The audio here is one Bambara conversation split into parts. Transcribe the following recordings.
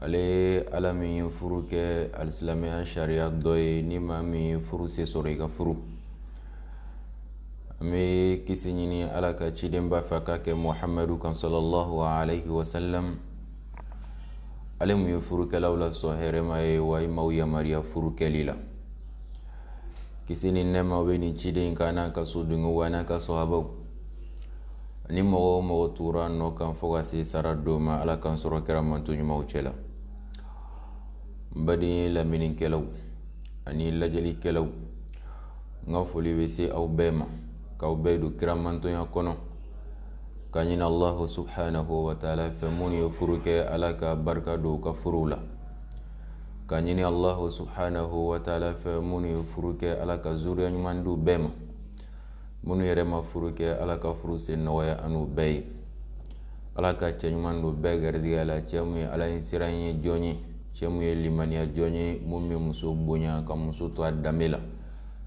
ale ye ala min ye furu kɛ alisilamɛya sariya dɔ ye ni maa min ye furu se sɔrɔ i ka furu an bɛ kisi ɲini ala ka cidenba fɛ ka kɛ muhamadu kan sɔlɔlɔhu alayhi wa sallam ale mun ye furukɛlaw la sɔn hɛrɛma ye wa a ye maaw yamaruya furu kɛli la kisi ni nɛɛma bɛ nin ciden in kan n'a ka so dungew wa n'a ka sɔhabaw ani mɔgɔ o mɔgɔ tugura nɔ kan fo ka se sara don ma ala k'an sɔrɔ kira mantɔn ɲumanw cɛ la baden lamɛnnikɛlaw ani lajɛlikɛlaw n ka foli bɛ se aw bɛɛ ma k'aw bɛɛ don kira mantɔnya kɔnɔ ka ɲini allahu subhanahu wa taala fɛ minnu ye furu kɛ ala ka barika don u ka furuw la ka ɲini allahu subhanahu wa taala fɛ minnu ye furu kɛ ala ka zuriya ɲuman di bɛɛ ma minnu yɛrɛ ma furu kɛ ala ka furu sen nɔgɔya an n'u bɛɛ ye ala ka cɛ ɲuman don bɛɛ garijɛgɛ la cɛ min ye ala ɲɛsiran jɔn ye cɛ min ye limaniya jɔn ye minnu bɛ muso bonya ka muso to a danbe la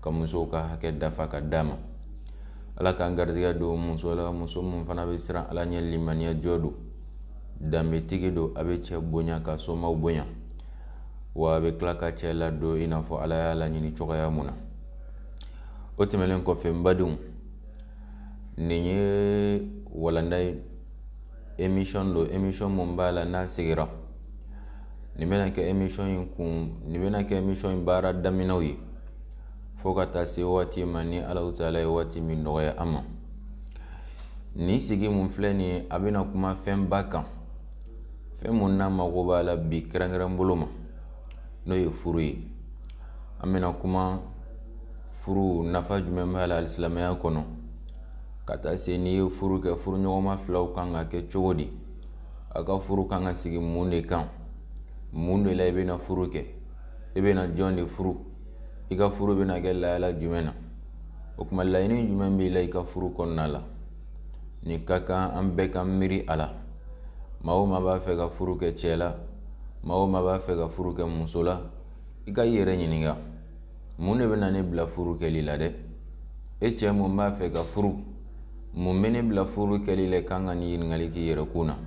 ka muso ka hakɛ dafa ka d'a ma ala k'an garijɛgɛ don muso la muso min fana bɛ siran ala ɲɛ limaniya jɔn don danbetigi don a bɛ cɛ bonya k'a somaaw bonya wa a bɛ tila ka cɛ ladon i n'a fɔ ala y'a laɲini cogoya mun na o tɛmɛnen kɔfɛ n badenw nin ye walanda ye emisɔn don emisɔn min b'a la n'an sigira nin bɛna kɛ emisɔn in kun nin bɛna kɛ emisɔn in baara daminɛw ye fo ka taa se waati ma ni ala taala ye waati min nɔgɔya an ma nin sigi mun filɛ nin ye a bɛna kuma fɛnba kan fɛn mun n'an mago b'a la bi kɛrɛnkɛrɛn bolo ma n'o ye furu ye an bɛna kuma furu nafa jumɛn b'a la alisilamɛya kɔnɔ ka taa se n'i ye furu kɛ furuɲɔgɔnma filaw kan ka kɛ cogo di a ka furu kan ka sigi mun de kan mun de la i bɛna furu kɛ i bɛna jɔn de furu i ka furu bɛna kɛ lahala jumɛn na o tuma laɲini jumɛn b'i la i ka furu kɔnɔna la nin ka kan an bɛɛ ka miiri a la maa o maa b'a fɛ ka furu kɛ cɛ la maa o maa b'a fɛ ka furu kɛ muso la i ka i yɛrɛ ɲininka mun de bɛna ne bila furu kɛli la dɛ e cɛ mun b'a fɛ ka furu mun bɛ ne bila furu kɛli la i kan ka nin ɲininkali k'i yɛrɛ kun na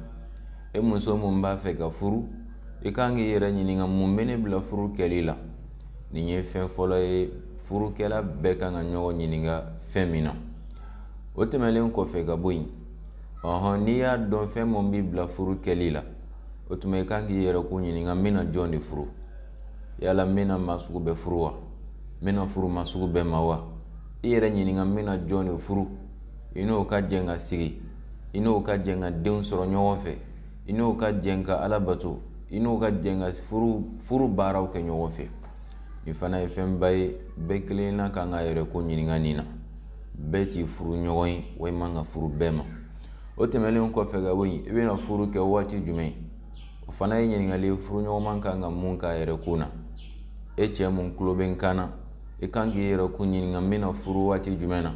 e muso mun b'a fɛ ka furu i kan k'i yɛrɛ ɲininka mun bɛ ne bila furu kɛli la nin ye fɛn fɔlɔ ye furukɛla bɛɛ kan ka ɲɔgɔn ɲininka fɛn min na o tɛmɛnlen kɔfɛ ka bɔ yen ɔhɔn n'i y'a dɔn fɛn min b'i bila furu kɛli la o tuma i kan k'i yɛrɛkun ɲininka n bɛna jɔn de furu yala n bɛna maa sugu bɛɛ furu wa n bɛna furu maa sugu bɛɛ ma wa i yɛrɛ ɲininka n bɛna jɔn de furu i n'o ka jɛn ka sigi i n'o ka jɛn ka denw sɔrɔ ɲɔgɔn fɛ i n'o ka jɛn ka ala bato i n'o ka jɛn ka furu baaraw kɛ ɲɔgɔn fɛ nin fana ye fɛnba ye bɛɛ kelenna kan k'a yɛrɛkun ɲininka nin na bɛɛ t'i furuɲɔgɔn ye wa i man kan ka furu bɛɛ ma o tɛmɛnenw kɔfɛ ka bɔ yen i bɛna furu kɛ waati jumɛn o fana ye ɲininkali ye furuɲɔgɔnma kan ka mun k'a yɛrɛkun na e cɛ mun tulo bɛ n kan na i kan k'i yɛrɛkun ɲininka n bɛna furu waati jumɛn na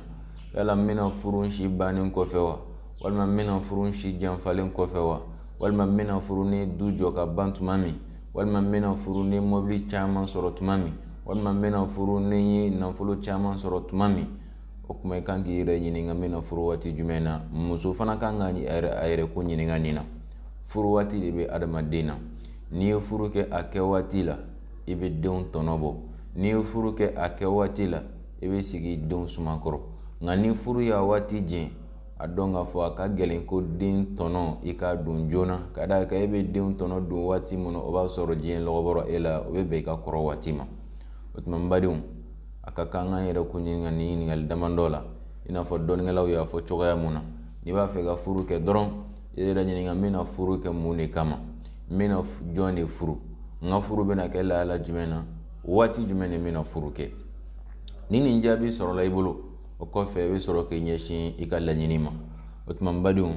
yala n bɛna furu si bannen kɔfɛ wa walima n bɛna furu si janfalen kɔfɛ wa walima n bɛna furu n ye du jɔ ka ban tuma min walima n bɛna furu n ye mɔbili caman sɔrɔ tuma min walima n bɛna furu ne ye nafolo caman sɔrɔ tuma min o tuma i kan k'i yɛrɛ ɲininka n bɛna furu waati jumɛn na muso fana kan ka a yɛrɛkun ɲininka nin na furu waati de bɛ adamaden na n'i ye furu kɛ a kɛ waati la i bɛ denw tɔnɔ bɔ n'i ye furu kɛ a kɛ waati la i bɛ sigi denw suma kɔrɔ nka ni furu y'a waati jɛ a dɔn k'a fɔ a ka gɛlɛn ko den tɔnɔ i k'a dun joona ka d'a kan e bɛ denw tɔnɔ dun waati min na o b'a sɔrɔ diɲɛ lɔgɔ bɔra e la o bɛ bɛn i ka kɔrɔ waati ma o tuma n badenw an ka kan k'an yɛrɛkun ɲininka nin ɲininkali damadɔ la i n'a fɔ dɔnnikɛlaw y'a fɔ cogoya mun na n'i b'a fɛ ka furu kɛ dɔrɔn i yɛrɛ ɲininka n bɛna furu kɛ mun de kama n bɛna jɔn de furu n ka furu bɛna kɛ lahala jumɛn na waati jumɛn de n bɛna furu kɛ ni nin jaabi sɔrɔla i bolo o kɔfɛ i bɛ sɔrɔ k'i ɲɛsin i ka laɲini ma o tuma badenw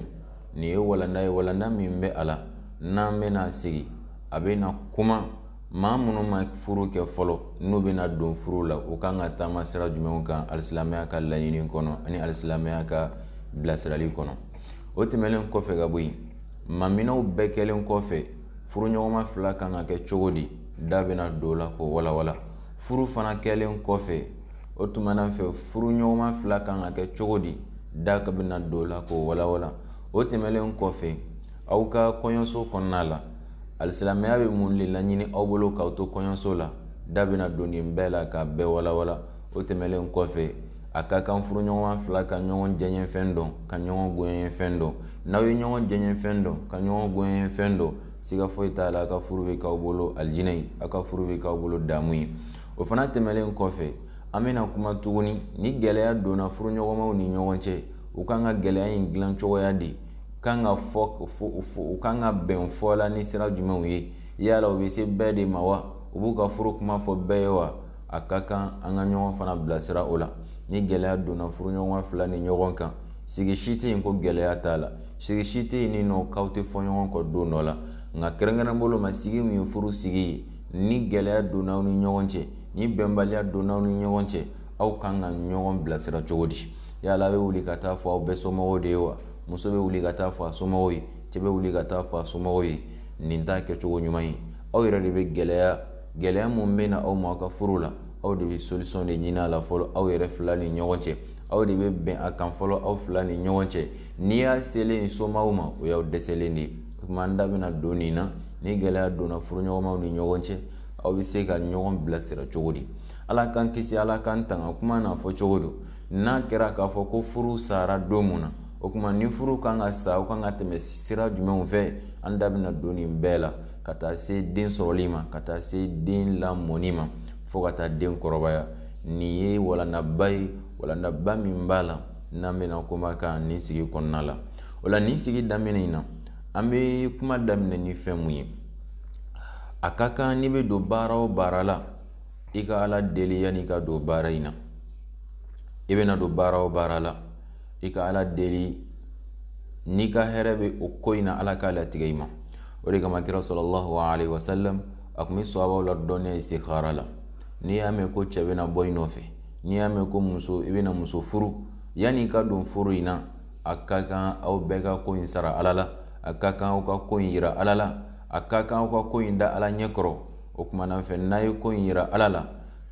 nin ye walanda ye walanda min bɛ a la n'an bɛna sigi an bɛna kuma maa minnu ma furu kɛ fɔlɔ n'u bɛna don furu la u kan ka taama sira jumɛnw kan alisilamɛya ka laɲini kɔnɔ ani alisilamɛya ka bilasirali kɔnɔ o tɛmɛnen kɔfɛ ka bɔ yen maminɛw bɛɛ kɛlen kɔfɛ furuɲɔgɔnma fila kan ka kɛ cogo di da bɛna don o la k'o walawala furu fana kɛlen kɔfɛ o tuma na fɛ furuɲɔgɔnma fila kan ka kɛ cogo di da bɛna don o la k'o walawala o tɛmɛnlen kɔfɛ aw ka kɔɲɔso kɔnɔna la alisilamɛya bɛ mun de laɲini aw bolo k'aw to kɔɲɔso la da bɛna don nin bɛɛ la k'a bɛɛ walawala o tɛmɛnlen kɔfɛ a ka kan furuɲɔgɔn fila ka ɲɔgɔn diyanyefɛn dɔn ka ɲɔgɔn gonyefɛn dɔn n'aw ye ɲɔgɔn diyanyefɛn dɔn ka ɲɔgɔn gonyefɛn dɔn siga foyi t'a la a ka furu bɛ k'aw bolo alijinɛ ye a ka furu bɛ k'aw bolo damu ye o fana tɛmɛnen kɔfɛ an bɛna kuma tuguni ni gɛlɛya donna furuɲɔgɔnmaw ni ɲɔgɔn cɛ u kan ka gɛlɛya in dilan cogoya de kan ka fɔ u kan ka bɛn fɔ la ni sira jumɛnw ye yala u bɛ se bɛɛ de ma wa u b'u ka furu kuma fɔ bɛɛ ye wa a ka kan an ka ɲɔgɔn fana bilasira o la ni gɛlɛya donna furuɲɔgɔn fila ni ɲɔgɔn cɛ sigi si tɛ yen ko gɛlɛya t'a la sigi si tɛ yen nin nɔ k'aw tɛ fɔ ɲɔgɔn kɔ don dɔ la nka kɛrɛnkɛrɛn bolo ma sigi min ye furu sigi ye ni gɛlɛya donna aw ni ɲɔgɔn cɛ ni bɛnbaliya donna aw ni ɲɔgɔn cɛ aw kan ka ɲɔgɔn bilasira cogo di yala aw bɛ wuli ka taa fɔ aw bɛɛ somɔgɔw de ye wa muso bɛ wuli ka taa fɔ a somɔgɔw ye cɛ bɛ wuli ka taa fɔ a somɔgɔw ye nin t'a kɛcogo ɲuman ye aw yɛrɛ de bɛ gɛlɛya gɛlɛya min bɛ na aw ma aw ka furu la aw de bɛ solisɔn de ɲini a la fɔlɔ aw yɛrɛ fila ni ɲɔgɔn cɛ aw de bɛ bɛn a kan fɔlɔ aw fila ni ɲɔgɔn cɛ n'i y'a selen i somaaw ma o y'i dɛsɛlen de o tuma na an da bɛna don nin na ni gɛlɛya donna furuɲɔgɔnmaw ni ɲɔgɔn cɛ aw bɛ se ka ɲɔgɔn bilasira cogo di ala k'an kisi ala k'an tanga kuma n'a fɔ cogo don n'a kɛra k'a fɔ ko furu sara don min na o tuma ni furu ka kan ka sa u kan ka tɛmɛ sira jumɛnw fɛ an da bɛna don nin bɛɛ la ka taa se den sɔrɔli ma ka taa se den lamɔni ma fo ka taa den kɔrɔbaya nin ye walandaba ye walandaba min b'a la n'an bɛna kuma a kan nin sigi kɔnɔna la o la nin sigi daminɛ in na an bɛ kuma daminɛ ni fɛn min ye a ka kan n'i bɛ don baara o baara la i ka ala deli yanni i ka don baara in na i bɛna don baara o baara la i ka ala deli n'i ka hɛrɛ bɛ o ko in na ala k'a latigɛ i ma o de kama kira sallallahu alayhi wa sallam a tun bɛ sahabaw ladɔnniya istikhara la n'i y'a mɛn ko cɛ bɛna bɔ i nɔfɛ n'i y'a mɛn ko muso i bɛna muso furu yanni i ka don furu in na a ka kan aw bɛɛ ka ko in sara ala la a ka kan aw ka ko in jira ala la a ka kan aw ka ko in da ala ɲɛ kɔrɔ o tuma na fɛ n'aw ye ko in jira ala la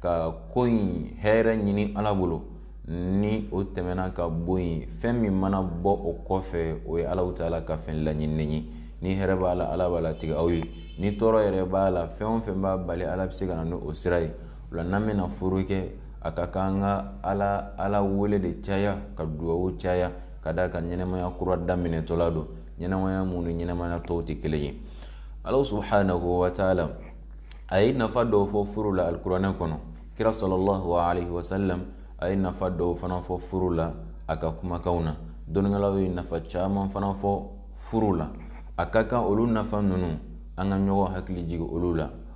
ka ko in hɛrɛ ɲini ala bolo ni o tɛmɛna ka bɔ yen fɛn min mana bɔ o kɔfɛ o ye ala taala ka fɛn laɲini ye ni hɛrɛ b'a la ala b'a latigɛ aw ye ni tɔɔrɔ yɛrɛ b'a la fɛn o fɛn b'a bali ala bɛ se ka na ni o sira ye O la n'an bɛna furu kɛ a ka kan an ka ala ala wele de caya ka dugawu caya ka da a kan ɲɛnɛmaya kura daminɛtɔla don ɲɛnɛmaya min ni ɲɛnɛmaya tɔw tɛ kelen ye ala subhanahu wa taala a ye nafa dɔw fɔ furu la alikuranɛ kɔnɔ kira sallallahu wa sallam a ye nafa dɔw fana fɔ furu la a ka kumakanw na dɔnnikɛlaw ye nafa caman fana fɔ furu la a ka kan olu nafa ninnu an ka ɲɔgɔn hakili jigin olu la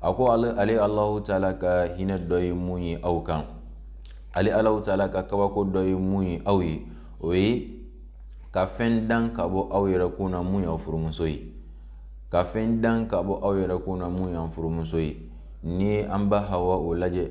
a ko ale alahu taala ka hinɛ dɔ ye mun ye aw kan ale alahu taala ka kabako dɔ ye mun ye aw ye o ye ka fɛn dan ka bɔ aw yɛrɛ kun na mun y'aw furumuso ye ka fɛn dan ka bɔ aw yɛrɛ kun na mun y'an furumuso ye n'i y'an ba hawa o lajɛ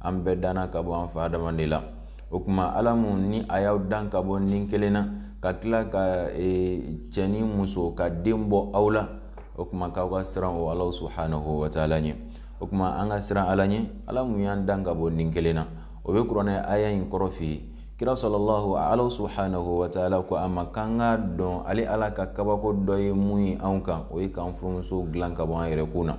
an bɛɛ danna ka bɔ an fa adama dama de la o tuma ala mun ni a y'aw dan ka bɔ ni kelen na ka tila ka e, cɛ ni muso ka den bɔ aw la o tuma k'aw ka siran o ala subuhanahu wa taala ɲɛ o tuma an ka siran ala ɲɛ ala mun y'an dan ka bɔ ni kelen na o bɛ kuranɛ aya in kɔrɔ fɛ yen kira salalahu ala subuhanahu wa taala ko a ma k'an k'a dɔn ale ala ka kabako dɔ ye mun ye anw kan o ye k'an furumuso dilan ka bɔ an yɛrɛ kun na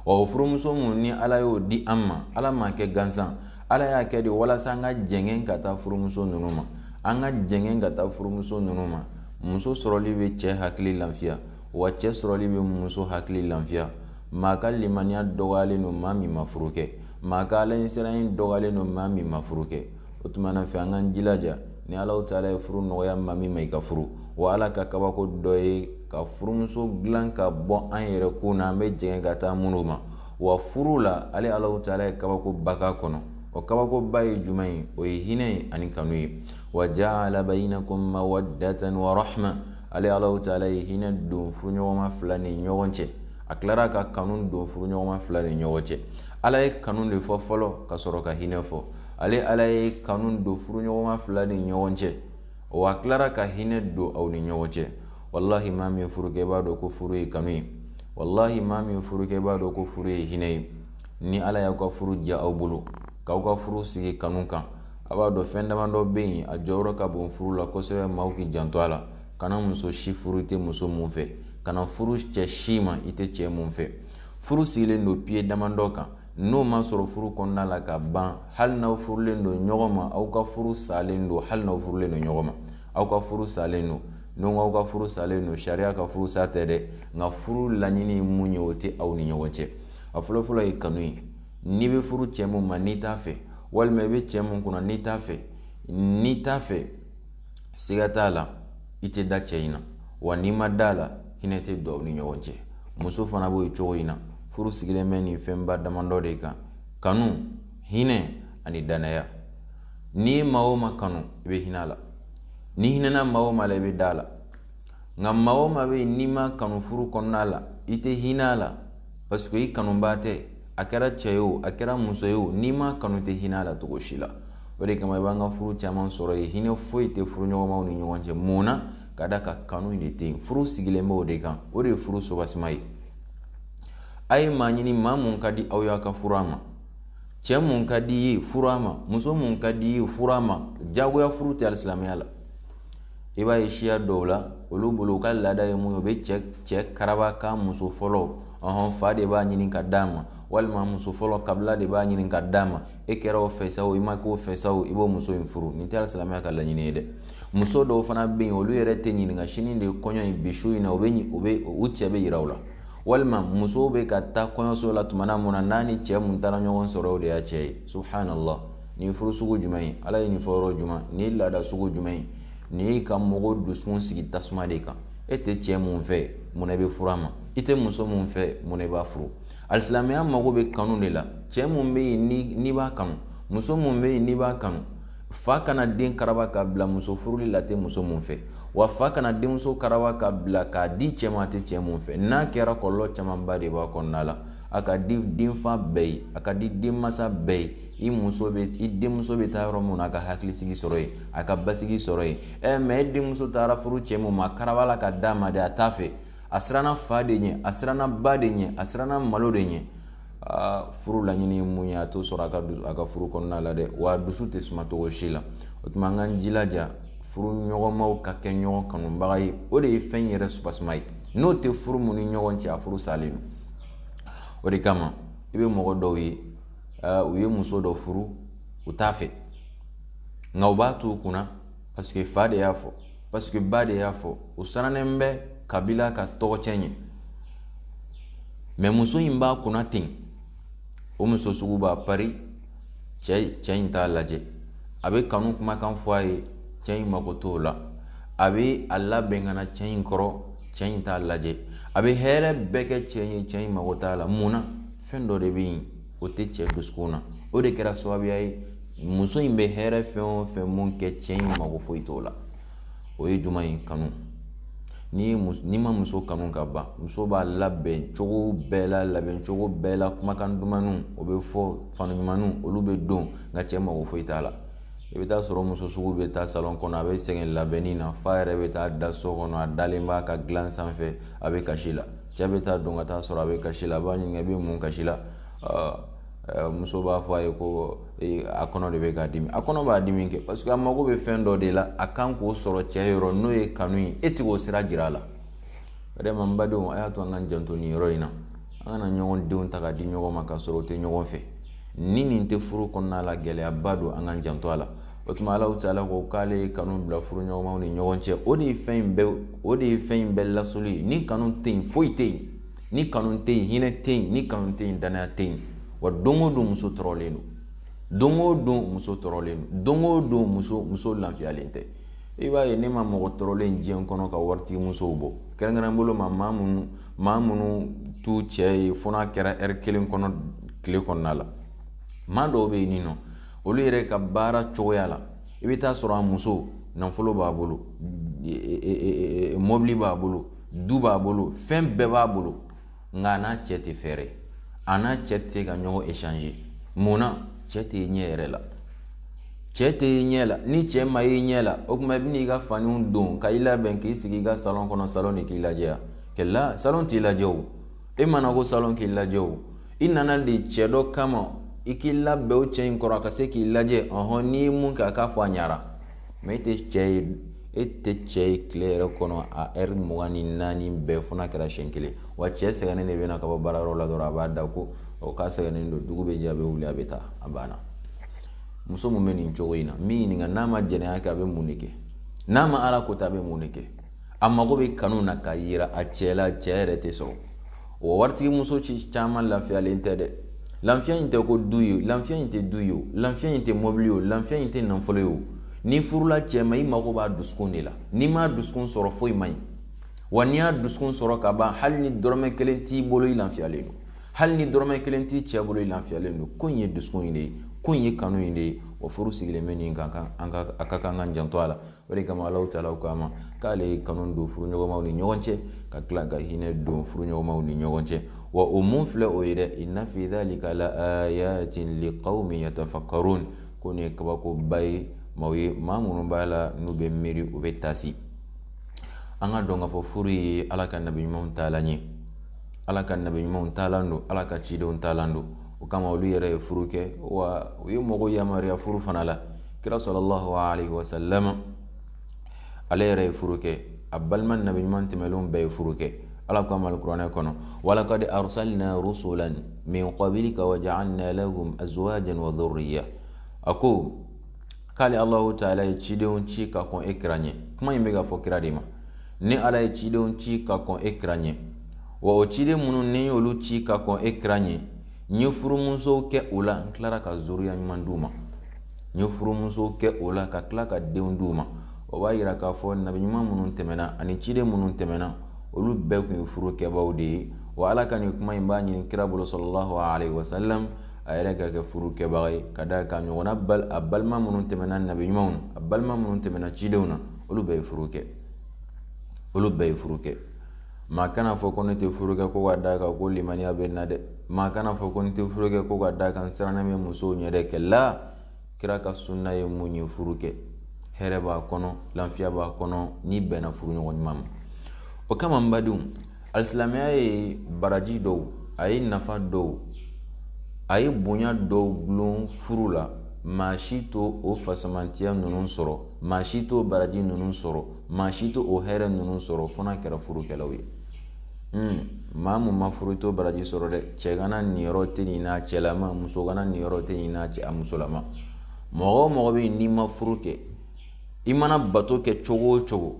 ɔ furumuso mun ni ala y'o di an ma ala m'a kɛ gansan ala y'a kɛ de walasa an ka jɛngɛn ka taa furumuso ninnu ma an ka jɛngɛn ka taa furumuso ninnu ma muso sɔrɔli bɛ cɛ hakili lafiya wa cɛ sɔrɔli bɛ muso hakili lafiya maa ka limaniya dɔgɔyalen don maa min ma furu kɛ maa ka alaɲɛsiranya dɔgɔyalen don maa min ma furu kɛ o tuma na fɛ an k'an jilaja ni alahu taala ye furu nɔgɔya maa min ma i ka furu wa ala ka kabako dɔ ye ka furumuso dilan ka bɔ an yɛrɛ kun na an bɛ jɛngɛn ka taa minnu ma wa furu la ale alahu taala ye kabakoba k'a kɔnɔ o kabakoba ye jumɛn ye o ye hinɛ ye ani kanu ye wa jaala bayinakum mawaddatan wa rahma ale alahu taala ye hinɛ don furuɲɔgɔnma fila ni ɲɔgɔn cɛ a tilara ka kanu don furuɲɔgɔnma fila ni ɲɔgɔn cɛ ala ye kanu de fɔ fɔlɔ ka sɔrɔ ka hinɛ fɔ ale ala ye kanu don furuɲɔgɔnma fila ni ɲɔgɔn cɛ wa a tilara ka hinɛ don aw ni ɲɔgɔn cɛ walahi maa min furu kɛ b'a dɔn ko furu ye kanu ye walahi maa min furu kɛ b'a dɔn ko furu ye hinɛ ye ni ala y'aw ka furu diya aw bolo k'aw ka furu sigi kanu kan a b'a dɔn fɛn damadɔ bɛ yen a jɔyɔrɔ ka bon furu la kosɛbɛ maaw k'i janto a la kana muso si furu i tɛ muso mun fɛ kana furu cɛ si ma i tɛ cɛ mun fɛ furu sigilen don piye damadɔ kan n'o ma sɔrɔ furu kɔnɔna la ka ban hali n'aw furulen don ɲɔgɔn ma aw ka furu salen don hali n'aw furulen don ɲɔgɔn ma aw ka furu salen don n'o aw ka furu salen don sariya ka furu sa tɛ dɛ nka furu laɲini mun ye o tɛ aw ni ɲɔgɔn cɛ a fɔlɔfɔlɔ ye kanu ye n'i bɛ furu cɛ mun ma n'i t'a fɛ walima i bɛ cɛ mun kunna n'i t'a fɛ n'i t'a fɛ siga t'a la i tɛ da cɛ in na wa n'i ma da a la hinɛ tɛ don aw ni ɲɔgɔn cɛ muso fana b'o cogo in na furu sigilen bɛ nin fɛnba damadɔ de kan kanu hinɛ ani dannaya n'i ye maa o maa kanu i bɛ hinɛ a la n'i hinɛna maa o maa la i bɛ da a la nka maa o maa bɛ yen n'i m'a kanu furu kɔnɔna la i tɛ hinɛ a la parce que i kanubaa tɛ a kɛra cɛ ye o a kɛra muso ye o n'i m'a kanu i tɛ hinɛ a la cogo si la o de kama i b'an ka furu caman sɔrɔ yen hinɛ foyi tɛ furu ɲɔgɔnmaw ni ɲɔgɔn cɛ mun na ka d'a kan kanu de tɛ yen furu sigilen bɛ o de kan o de ye furu soubassement ye a ye maa ɲini maa mun ka di aw ye ka furu a ma cɛ mun ka di i ye furu a ma muso mun ka di i ye furu a ma jagoya furu tɛ alisilamɛya la i b'a ye siya dɔw la olu bolo u ka laada ye mun ye u bɛ cɛ cɛ karaba ka muso furu ɔhɔn fa de b'a ɲini ka d'a ma walima muso furu kabila de b'a ɲini ka d'a ma e kɛra o fɛ sa o i ma k'o fɛ sa o i b'o muso in furu nin tɛ silamɛya ka laɲini ye dɛ muso dɔw fana bɛ yen olu yɛrɛ tɛ ɲininka sini de kɔɲɔ in bi su in na u bɛ u bɛ u cɛ bɛ yira u la walima muso bɛ ka taa kɔɲɔso la tuma na mun na n'a ni cɛ mun taara ɲɔgɔn sɔrɔ o de y'a cɛ ye subhanallah nin furu sugu jumɛn ye ala ye nin fɔ yɔrɔ jumɛn nin laada sugu jumɛn ye nin ye ka mɔgɔ dusukun sigi tasuma de kan e tɛ cɛ mun fɛ mun i bɛ furu a ma i tɛ muso mun fɛ mun i b'a furu alisilamɛya mago bɛ kanu de la cɛ mun bɛ yen n'i b'a kanu muso mun bɛ yen n'i b'a kanu fa kana den karaba k'a bila muso furuli la a tɛ muso mun fɛ wa fa kana denmuso karaba ka bila k'a di cɛ ma a tɛ cɛ mun fɛ n'a kɛra kɔlɔlɔ camanba de b'a kɔnɔna la a ka di denfa bɛɛ ye a ka di denmansa bɛɛ ye i muso bɛ i denmuso bɛ taa yɔrɔ min na a ka hakilisigi sɔrɔ yen a ka basigi sɔrɔ yen ɛ mɛ e denmuso taara furu cɛ min ma karabala ka d'a ma de a t'a fɛ a siranna fa de ɲɛ a siranna ba de ɲɛ a siranna malo de ɲɛ aa furu laɲini ye mun ye a t'o sɔrɔ a ka a ka furu kɔnɔna la dɛ wa dusu tɛ suma cogo si la o tuma an k'an jilaja furu ɲɔgɔnmaw ka kɛ ɲɔgɔn kanubaga ye o de ye fɛn yɛrɛ soubassement ye n'o tɛ furu mun ni ɲɔgɔn cɛ a furu salen don o de kama i bɛ mɔgɔ dɔw ye u ye muso dɔ furu u t'a fɛ nka u b'a to u kunna paseke fa de y'a fɔ paseke ba de y'a fɔ u sirannen bɛ kabila ka tɔgɔcɛn ɲɛ mɛ muso in b'a kunna ten o muso sugu b'a pari cɛ cɛ in t'a lajɛ a bɛ kanu kumakan fɔ a ye cɛ in mako t'o la a bɛ a labɛn ka na cɛ in kɔrɔ cɛ in t'a lajɛ a bɛ hɛrɛ bɛɛ kɛ cɛ ye cɛ in mako t'a la mun na fɛn dɔ de bɛ yen o tɛ cɛ dusukun na o de kɛra sababuya ye muso in bɛ hɛrɛ fɛn o fɛn mun kɛ cɛ in mago foyi t'o la o ye jumɛn ye kanu ni n'i ma muso kanu ka ban muso b'a labɛn cogo bɛɛ la labɛn cogo bɛɛ la kumakan dumanw o bɛ fɔ fani ɲumanw olu bɛ don nka cɛ mago foyi t'a la i bɛ t'a sɔrɔ muso sugu bɛ taa salon kɔnɔ a bɛ sɛgɛn labɛnni na f'a yɛrɛ bɛ taa da so kɔnɔ a dalen b'a ka dilan sanfɛ a bɛ kasi la cɛ bɛ taa don ka taa sɔrɔ a bɛ kasi la a b'a ɲininka i bɛ mun kasi la muso b'a fɔ a ye ko a kɔnɔ de bɛ k'a dimi a kɔnɔ b'a dimi kɛ parce que a mago bɛ fɛn dɔ de la a kan k'o sɔrɔ cɛ yɔrɔ n'o ye kanu ye e tɛ k'o sira jira a la vraiment badenw a y'a to an ka janto nin yɔrɔ in na an kana ɲɔgɔn denw ta ka di ɲɔgɔn ma ka sɔrɔ o tɛ ɲɔgɔn fɛ ni nin tɛ furu kɔnɔna la gɛlɛyaba don an ka janto a la o tuma alahu taala ko k'ale ye kanu bila furuɲɔgɔnmaw ni ɲɔgɔn cɛ o de ye fɛn in bɛɛ o de ye fɛn in bɛɛ lasoli ye ni kanu tɛ yen foyi tɛ yen ni kanu tɛ yen hinɛ tɛ yen ni kanu tɛ yen danaya tɛ yen wa don o don muso tɔɔrɔlen don don o don muso tɔɔrɔlen don don o don muso muso lafiyalen tɛ i b'a ye ne ma mɔgɔ tɔɔrɔlen diɲɛ kɔnɔ ka waritigi musow bɔ kɛrɛnkɛrɛn bolo ma maa minnu maa minnu t'u cɛ ye fo n'a kɛra ɛri kelen kɔnɔ tile kɔnɔna la maa dɔw bɛ yen ninnu olu yɛrɛ ka baara cogoya la i bɛ taa sɔrɔ a muso nafolo b'a bolo mɔbili b'a bolo du b'a bolo fɛn bɛɛ b'a bolo nka a n'a cɛ tɛ fɛrɛ a n'a cɛ tɛ se ka ɲɔgɔn échange mun na cɛ tɛ ɲɛ yɛrɛ la cɛ tɛ i ɲɛ la ni cɛ ma i ɲɛ la o tuma i bɛna i ka faniw don ka i labɛn k'i sigi i ka salon kɔnɔ salon de k'i lajɛ kɛlɛ salon t'i lajɛ o e ma na ko salon k'i lajɛ o i nana de cɛ dɔ kama i k'i labɛn o cɛ in kɔrɔ a ka se k'i lajɛ ɔhɔn n'i ye mun kɛ a k'a fɔ a ɲara mais e tɛ cɛ ye e tɛ cɛ ye tile yɛrɛ kɔnɔ a ɛri mugan ni naani bɛɛ fo n'a kɛra siɲɛ kelen wa cɛ sɛgɛnnen de bɛ na ka bɔ baarayɔrɔ la dɔrɔn a b'a da ko o k'a sɛgɛnnen don dugu bɛ jɛ a bɛ wuli a bɛ taa a banna muso min bɛ nin cogo in na n b'i ɲininka n'a ma jɛnɛya kɛ a bɛ mun de kɛ n'a ma ala ko ta a bɛ mun de kɛ a mago bɛ kanu na k'a jira a cɛ la cɛ yɛrɛ tɛ sɔrɔ o waritigi muso ci caman lafiyalen tɛ dɛ lafiya in tɛ ko du ye lafiya in tɛ du ye o lafiya in tɛ mɔbili ye o lafiya in tɛ nafolo ye o n'i furula cɛ ma i mago b'a dusukun de la n'i m'a dusukun sɔrɔ foyi man ɲi wa n'i y'a dusukun sɔrɔ ka ban hali ni dɔrɔmɛ kelen t'i bolo i lafiyalen don hali ni dɔrɔmɛ kelen t'i cɛ bolo i lafiyalen don ko in ye dusukun in de ye ko in ye kanu in de ye o furu sigilen bɛ nin kan a ka kan ka janto a la o de kama alahu taala ko a ma k'ale ye kanu don furuɲɔgɔnmaw ni ɲɔgɔn cɛ ka tila ka hinɛ don furuɲɔgɔnmaw ni ɲɔgɔn cɛ wa o min filɛ o ye dɛ inna fi dhalika la ayatin liqaumin yatafakkarun ko nin ye kabakoba ye maaw ye maa minnu b'a la n'u bɛ miiri u bɛ taasi an ka dɔn k'a fɔ furu ye ala ka nabi ɲumanw taalan ye ala ka nabi ɲumanw taalan don ala ka cidenw taalan don o kama olu yɛrɛ ye furu kɛ wa u ye mɔgɔw yamaruya furu fana la kira sallallahu alaihi wasallam ale yɛrɛ ye furu kɛ a balima nabi ɲuman tɛmɛnlenw bɛɛ ye furu kɛ ala ko a ma alkuranɛ kɔnɔ walakad arsalna rusulan min qablika wa ja'alna lahum azwajan wa dhurriya a ko k'ale allahu taala ye cidenw ci ka kɔn e kira ɲɛ kuma in bɛ ka fɔ kira de ma ne ala ye cidenw ci ka kɔn e kira ɲɛ wa o ciden minnu ne y'olu ci ka kɔn e kira ɲɛ n ye furumuso kɛ o la n tilara ka zuriya ɲuman d'u ma n ye furumuso kɛ o la ka tila ka denw d'u ma o b'a yira k'a fɔ nabi ɲuman minnu tɛmɛna ani ciden minnu tɛmɛna olu bɛɛ tun ye furu kɛbaaw de ye wa ala ka nin kuma in b'a ɲini kira bolo sallallahu alaihi wasallam a yɛrɛ ka kɛ furu kɛbaga ye ka da kan ɲɔgɔnna a balima minnu tɛmɛna nabi ɲumanw na a balima minnu tɛmɛna cidenw na olu bɛɛ ye furu kɛ olu bɛɛ ye furu kɛ maa kana fɔ ko ne tɛ furu kɛ ko ka da kan ko limaniya bɛ n na dɛ maa kana fɔ ko ne tɛ furu kɛ ko ka da kan sirannen bɛ musow ɲɛ dɛ kɛlɛ kira ka sunna ye mun ye furu kɛ hɛrɛ b'a kɔnɔ lafiya b'a kɔnɔ n'i bɛnna furu ɲɔgɔn ɲuman ma o kama n badenw alisilamɛya ye baraji dɔw a ye nafa dɔw a ye bonya dɔw gulon furu la maa si t'o fisamantiya ninnu sɔrɔ maa si t'o baraji ninnu sɔrɔ maa si t'o hɛrɛ ninnu sɔrɔ fo n'a kɛra furukɛlaw ye maa min ma furu t'o baraji sɔrɔ dɛ cɛgana niyɔrɔ tɛ nin n'a cɛlama musogana niyɔrɔ tɛ nin n'a cɛ a musolama mɔgɔ o mɔgɔ bɛ yen n'i ma furu kɛ i mana bato kɛ cogo o cogo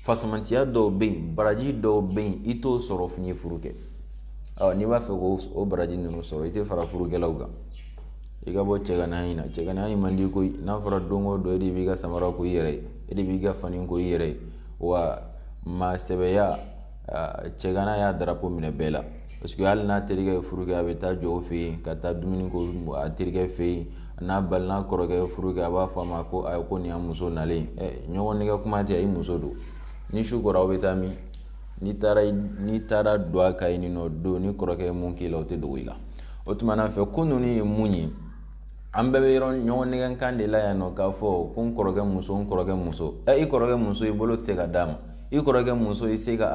fisamantiya dɔw bɛ yen baraji dɔw bɛ yen i t'o sɔrɔ f'i ye furu kɛ ɔ n'i b'a fɛ k'o baraji ninnu sɔrɔ i tɛ fara furukɛlaw kan i ka bɔ cɛganaya in na cɛganaya in man di koyi n'a fɔra don o don e de b'i ka samara ko i yɛrɛ ye e de b'i ka fani ko i yɛrɛ ye wa maa sɛbɛya cɛgana y'a darapo minɛ bɛɛ la parce que hali n'a terikɛ ye furu kɛ a bɛ taa jɔ o fɛ yen ka taa dumuni kɛ a terikɛ fɛ yen n'a balima kɔrɔkɛ ye furu kɛ a b'a fɔ a ma ko ayi ko nin y'a muso nalen ɛ ɲɔgɔn nɛgɛn kuma tɛ i muso don ni su kora aw bɛ taa min n'i taara n'i taara don a kan i nɔ don n'i kɔrɔkɛ ye min k'i la o tɛ dogo i la o tuma na fɛ ko ninnu ye mun ye an bɛɛ bɛ yɔrɔ ɲɔgɔn nɛgɛnkan de la yan nɔ k'a fɔ ko n kɔrɔkɛ muso n kɔrɔkɛ muso ɛ i kɔrɔkɛ muso i bolo tɛ se ka d'a ma i kɔrɔkɛ muso i tɛ se ka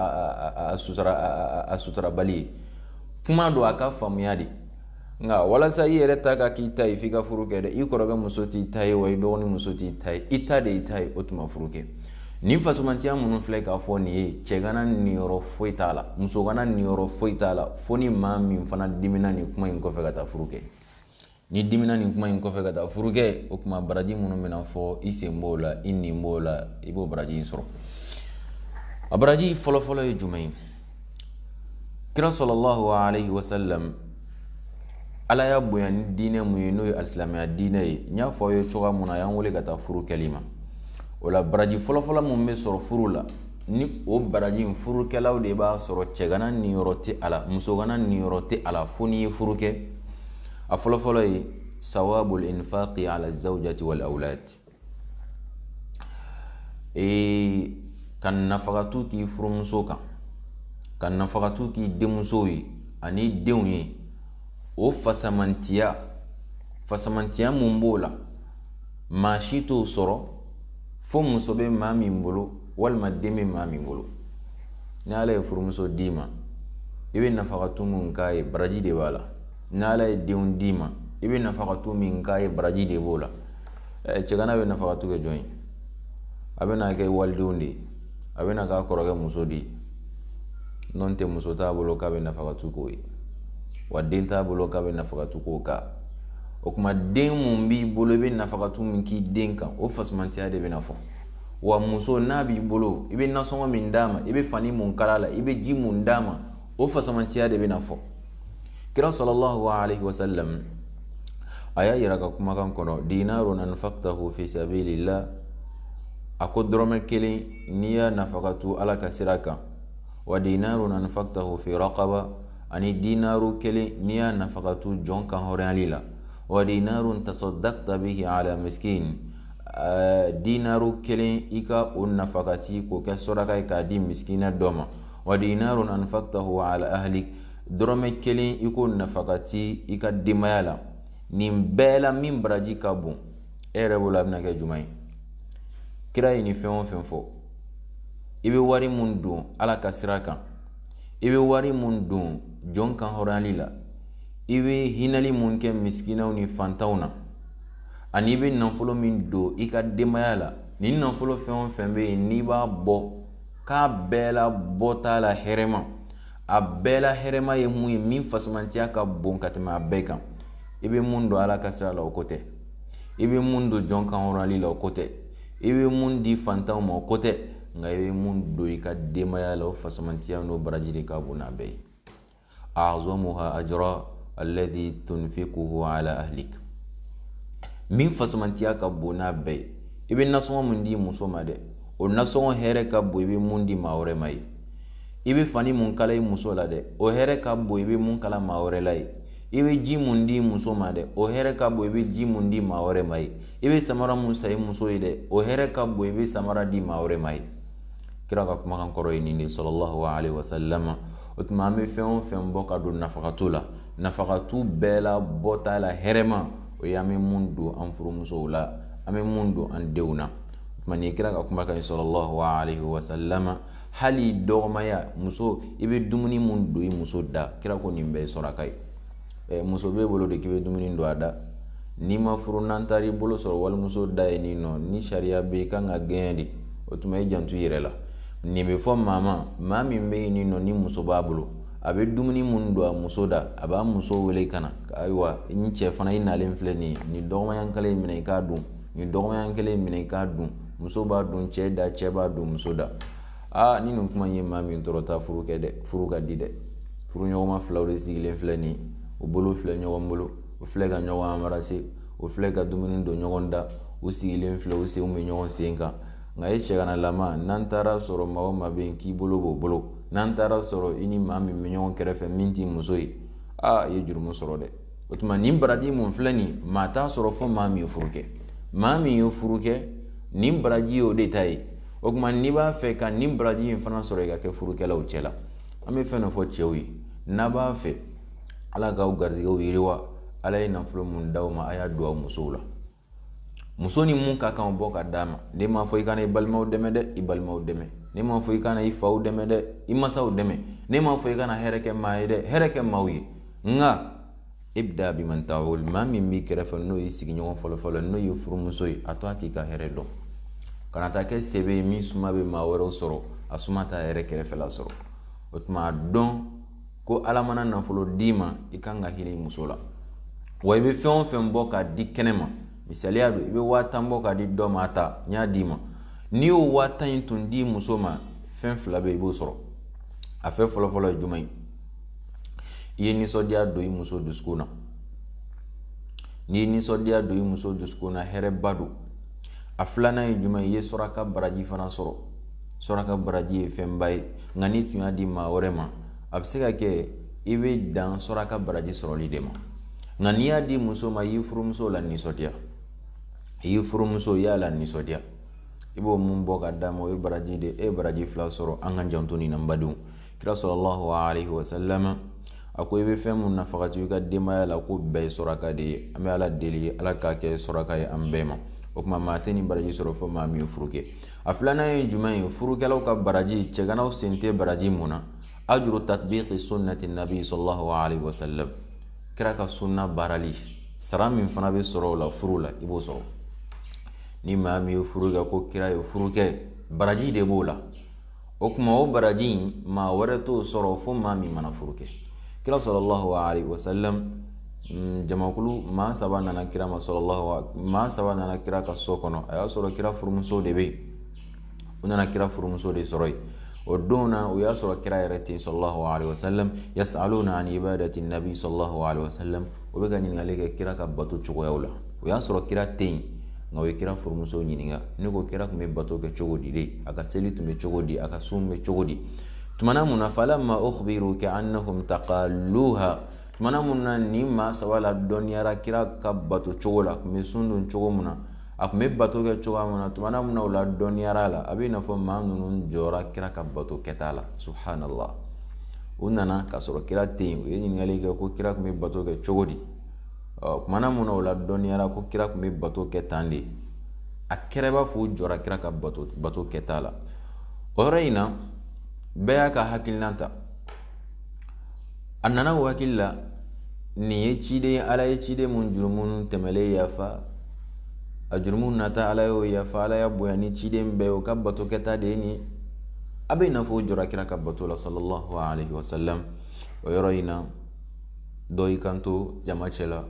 a sutura a suturabali ye kuma don a ka faamuya de nka walasa i yɛrɛ ta ka k'i ta ye f'i ka furu kɛ dɛ i kɔrɔkɛ muso t'i ta ye wa i dɔgɔnin muso t'i ta ye i ta de y'i ta ye o tuma furu kɛ nin fisamantiya minnu filɛ k'a fɔ nin ye cɛgana niyɔrɔ foyi t'a la musogana niyɔrɔ foyi t'a la fo ni maa min fana dimina nin kuma in kɔfɛ ka taa furu kɛ n'i dimina nin kuma in kɔfɛ ka taa furu kɛ o tuma baraji minnu bɛna fɔ i sen b'o la i nin b'o la i b'o baraji in sɔrɔ a baraji fɔlɔfɔlɔ ye jumɛn ye kira salalahu alayhi wa sallam ala y'a bonya ni diinɛ mun ye n'o ye alisilamɛya diinɛ ye n y'a fɔ aw ye cogoya mun na a y'an wele ka taa furu kɛli ma o la baraji fɔlɔfɔlɔ mun bɛ sɔrɔ furu la ni o baraji in furukɛlaw de b'a sɔrɔ cɛgana niyɔrɔ tɛ a la musogana niyɔrɔ tɛ a la fo n'i ye furu kɛ a fɔlɔ fɔlɔ ye sawabul infaqi ala zawjati wal awlad ee ka nafakatu k'i furumuso kan ka nafakatu k'i denmusow ye ani denw ye o fasamantiya fasamantiya mun b'o la maa si t'o sɔrɔ fo muso bɛ maa min bolo walima den bɛ maa min bolo ni ala ye furumuso d'i ma i bɛ nafakatu min k'a ye baraji de b'a la ni ala ye denw d'i ma i bɛ nafakatu min k'a ye baraji de b'o la cɛgana bɛ nafakatu kɛ jɔn ye a bɛ n'a kɛ wali denw de ye a bɛ n'a k'a kɔrɔkɛ muso de ye nɔntɛ muso t'a bolo k'a bɛ nafakatu k'o ye wa den t'a bolo k'a bɛ nafakatu k'o kan o tuma den mun b'i bolo i bɛ nafakatu min k'i den kan o fasamantiya de bɛna fɔ wa muso n'a b'i bolo i bɛ nasɔngɔ min d'a ma i bɛ fani mun kal'a la i bɛ ji mun d'a ma o fasamantiya de bɛna fɔ kira salalahu alayhi wa sallam a y'a yir'a ka kumakan kɔnɔ dinarun anfaqtahu fi sabilillah a ko dɔrɔmɛ kelen n'i y'a nafakatu ala ka sira kan wa dinarun anfaqtahu fi raqaba ani dinaru kelen n'i y'a nafakatu jɔn kanhɔrɔnyali la wa dinarun tasaddaqta bihi ala miskin ɛɛ dinaru kelen i ka o nafakati k'o kɛ saraka ye k'a di misikinɛ dɔ ma wa dinarun anfaqtahu ala ahlik dɔrɔmɛ kelen i k'o nafakati i ka denbaya la nin bɛɛ la min baraji ka bon e yɛrɛ bolo a bɛna kɛ jumɛn ye kira ye nin fɛn o fɛn fɔ i bɛ wari min don ala ka sira kan i bɛ wari min don jɔn kanhɔrɔnyali la i bɛ hinɛli minnu kɛ misikinɛw ni fantanw na ani i bɛ nafolo min don i ka denbaya la ni nafolo fɛn o fɛn bɛ yen n'i b'a bɔ k'a bɛɛ la bɔ t'a la hɛrɛma a bɛɛ la hɛrɛma ye mun ye min fasamantiya ka bon ka tɛmɛ a bɛɛ kan i bɛ mun don ala ka sira la o ko tɛ i bɛ mun don jɔn kanhɔrɔnyali la o ko tɛ i bɛ mun di fantanw ma o ko tɛ nka i bɛ mun don i ka denbaya la o fasamantiya n'o baraji ka bon n'a bɛɛ ye azomuha ajra alladhi tunfikuhu ala ahlik min fusamantiya ka bon n'a bɛɛ ye i bɛ nasɔngɔ mun di muso ma dɛ o nasɔngɔ hɛrɛ ka bon i bɛ mun di maa wɛrɛ ma ye i bɛ fani mun kala i muso la dɛ o hɛrɛ ka bon i bɛ mun kala maa wɛrɛ la ye i bɛ ji mun di muso ma dɛ o hɛrɛ ka bon i bɛ ji mun di maa wɛrɛ ma ye i bɛ samara mun san i muso ye dɛ o hɛrɛ ka bon i bɛ samara di maa wɛrɛ ma ye kira ka kumakan kɔrɔ ye nin de sɔlɔlahu alaihi wasalama o tuma an bɛ fɛn o fɛn bɔ ka don nafagatu la nafagatu bɛɛ la bɔta la hɛrɛma o ye an bɛ mun don an furumusow la an bɛ mun don an denw na o tuma nin kira ka kumakan in sɔlɔlahu alaihi wasalama hali dɔgɔmaɲan muso i bɛ dumuni mun don i muso da kira ko nin bɛɛ ye saraka ye ɛ muso b'e bolo de k'i bɛ dumuni don a da n'i ma furu n'an taar'i bolo sɔrɔ walimuso da ye nin nɔ ni sariya bɛ i kan ka gɛn de o tuma i janto i yɛrɛ la nin bɛ fɔ maa ma maa min bɛ yen nin nɔ ni muso b'a bolo a bɛ dumuni minnu don a muso da a b'a muso wele ka na ayiwa ni cɛ fana i nalen filɛ nin ye nin dɔgɔmaɲan kelen in minɛ i k'a dun nin dɔgɔmaɲan kelen in minɛ i k'a dun muso b'a don cɛ da cɛ b'a don muso da aa ni nin kuma ye maa min tɔɔrɔ taa furu kɛ dɛ furu ka di dɛ furuɲɔgɔnma filaw de sigilen filɛ nin ye u bolo filɛ ɲɔgɔn bolo u filɛ ka ɲɔgɔn amarase u filɛ ka dumuni don ɲɔgɔn da u sigilen filɛ u senw bɛ ɲɔgɔn sen kan nka e cɛganalama n'an taar'a sɔrɔ maa o maa bɛ yen k'i bolo b'o bolo n'an taar'a sɔrɔ i ni maa min bɛ ɲɔgɔn kɛrɛfɛ min t'i muso ye aa i ye jurumu sɔrɔ dɛ o tuma nin baraji mun filɛ nin maa t'a sɔrɔ fo maa min ye furu kɛ maa min ye furu kɛ nin baraji ye o de ta ye o tuma n'i b'a fɛ ka nin baraji in fana sɔrɔ i ka kɛ furukɛlaw cɛ la an bɛ fɛn dɔ fɔ cɛw ye n'a b'a fɛ ala k'aw garisigɛw yiriwa ala ye nafolo mun d'aw ma a y'a don aw musow la muso ni mun ka kan o bɔ ka d'a ma ne m'a fɔ i kana i balimaw dɛmɛ dɛ i balimaw dɛmɛ ne m'a fɔ i kana i faw dɛmɛ dɛ i masaw dɛmɛ ne m'a fɔ i kana hɛrɛ kɛ maa ye dɛ hɛrɛ kɛ maaw ye nka e bɛ da biman ta o maa min b'i kɛrɛfɛ n'o y'i sigiɲɔgɔn fɔlɔfɔlɔ n'o ye furumuso ye a to a k'i ka hɛrɛ dɔn kana taa kɛ sebe ye min suma bɛ maa wɛrɛw sɔrɔ a suma t'a yɛrɛ kɛrɛfɛla sɔrɔ o tuma dɔn ko ala mana nafolo d'i ma i kan ka hinɛ i muso la wa i bɛ fɛn o fɛn bɔ k'a di kɛnɛ ma misaliya don i bɛ waa tan bɔ k'a di dɔ ma a ta n y'a d'i ma n'i y'o waa tan in tun di muso ma fɛn fila bɛ i b'o sɔrɔ a fɛn fɔlɔfɔlɔ ye jumɛn ye i ye nisɔndiya don i muso dusukun na n'i ye nisɔndiya don i muso dusukun na hɛrɛba don a filanan ye jumɛn ye i ye saraka baraji fana sɔrɔ saraka baraji ye fɛnba ye nka n'i tun y'a di maa wɛrɛ ma a bɛ se ka kɛ i bɛ dan saraka baraji sɔrɔli de ma nka n'i y'a di muso ma i y'i furumuso lanisɔndiya i y'i furumuso i y'a lanisɔndiya i b'o mun bɔ ka d'a ma o ye baraji de ye e ye baraji fila sɔrɔ an ka janto nin na n badenw kira sallallahu alaihi wasallam a ko i bɛ fɛn min nafaka to i ka denbaya la k'o bɛɛ ye saraka de ye an bɛ ala deli ala k'a kɛ saraka ye an bɛɛ ma o tuma maa tɛ nin baraji sɔrɔ fo maa min ye furu kɛ a filanan ye jumɛn ye furukɛlaw ka baraji cɛganaw sen tɛ baraji min na ajuru tatbiqi sunnati nabi sallallahu alaihi wasallam kira ka sunna baarali sara min fana bɛ sɔrɔ o la furu la i b'o sɔrɔ ni maa min ye furu kɛ ko kira ye furu kɛ baraji de b'o la o tuma o baraji in maa wɛrɛ t'o sɔrɔ fo maa min mana furu kɛ kira sallallahu alayhi wa sallam mm, jamakulu maa saba nana kira ma sallallahu maa saba nana kira ka so kɔnɔ a y'a sɔrɔ kira furumuso de bɛ yen u nana kira furumuso de sɔrɔ yen o don na o y'a sɔrɔ kira yɛrɛ tɛ yen sallallahu alayhi wa sallam yasaluna an ibadati nabi sallallahu alayhi wa sallam o bɛ ka ɲininkali kɛ kira ka bato cogoyaw la o y'a sɔrɔ kira tɛ yen nka o ye kira furumuso ɲininka ne ko kira tun bɛ bato kɛ cogo di de a ka seli tun bɛ cogo di a ka sun bɛ cogo di tumana min na falamma ukhbiru ka'annahum taqalluha tumana min na nin maa saba ladɔnniyara kira ka bato cogo la a tun bɛ sun don cogo min na a tun bɛ bato kɛ cogoya min na tumana min na o ladɔnniyara a la a bɛ i n'a fɔ maa ninnu jɔra kira ka bato kɛta la subhanallah u nana k'a sɔrɔ kira tɛ yen u ye ɲininkali kɛ ko kira tun bɛ bato kɛ cogo di ɔ tumana min na o ladɔnniyara ko kira tun bɛ bato kɛ tan de a kɛra i b'a fɔ u jɔra kira ka bato bato kɛta la o yɔrɔ in na bɛɛ y'a ka hakilina ta a nana o hakili la nin ye ciden ye ala ye ciden min jurumu tɛmɛlen yafa a jurumu nata ala y'o yafa ala y'a bonya ni ciden bɛɛ o ka bato kɛta de ye nin a bɛ i n'a fɔ o jɔra kira ka bato la sallallahu alaihi wasallam o yɔrɔ in na dɔ y'i kanto jama cɛla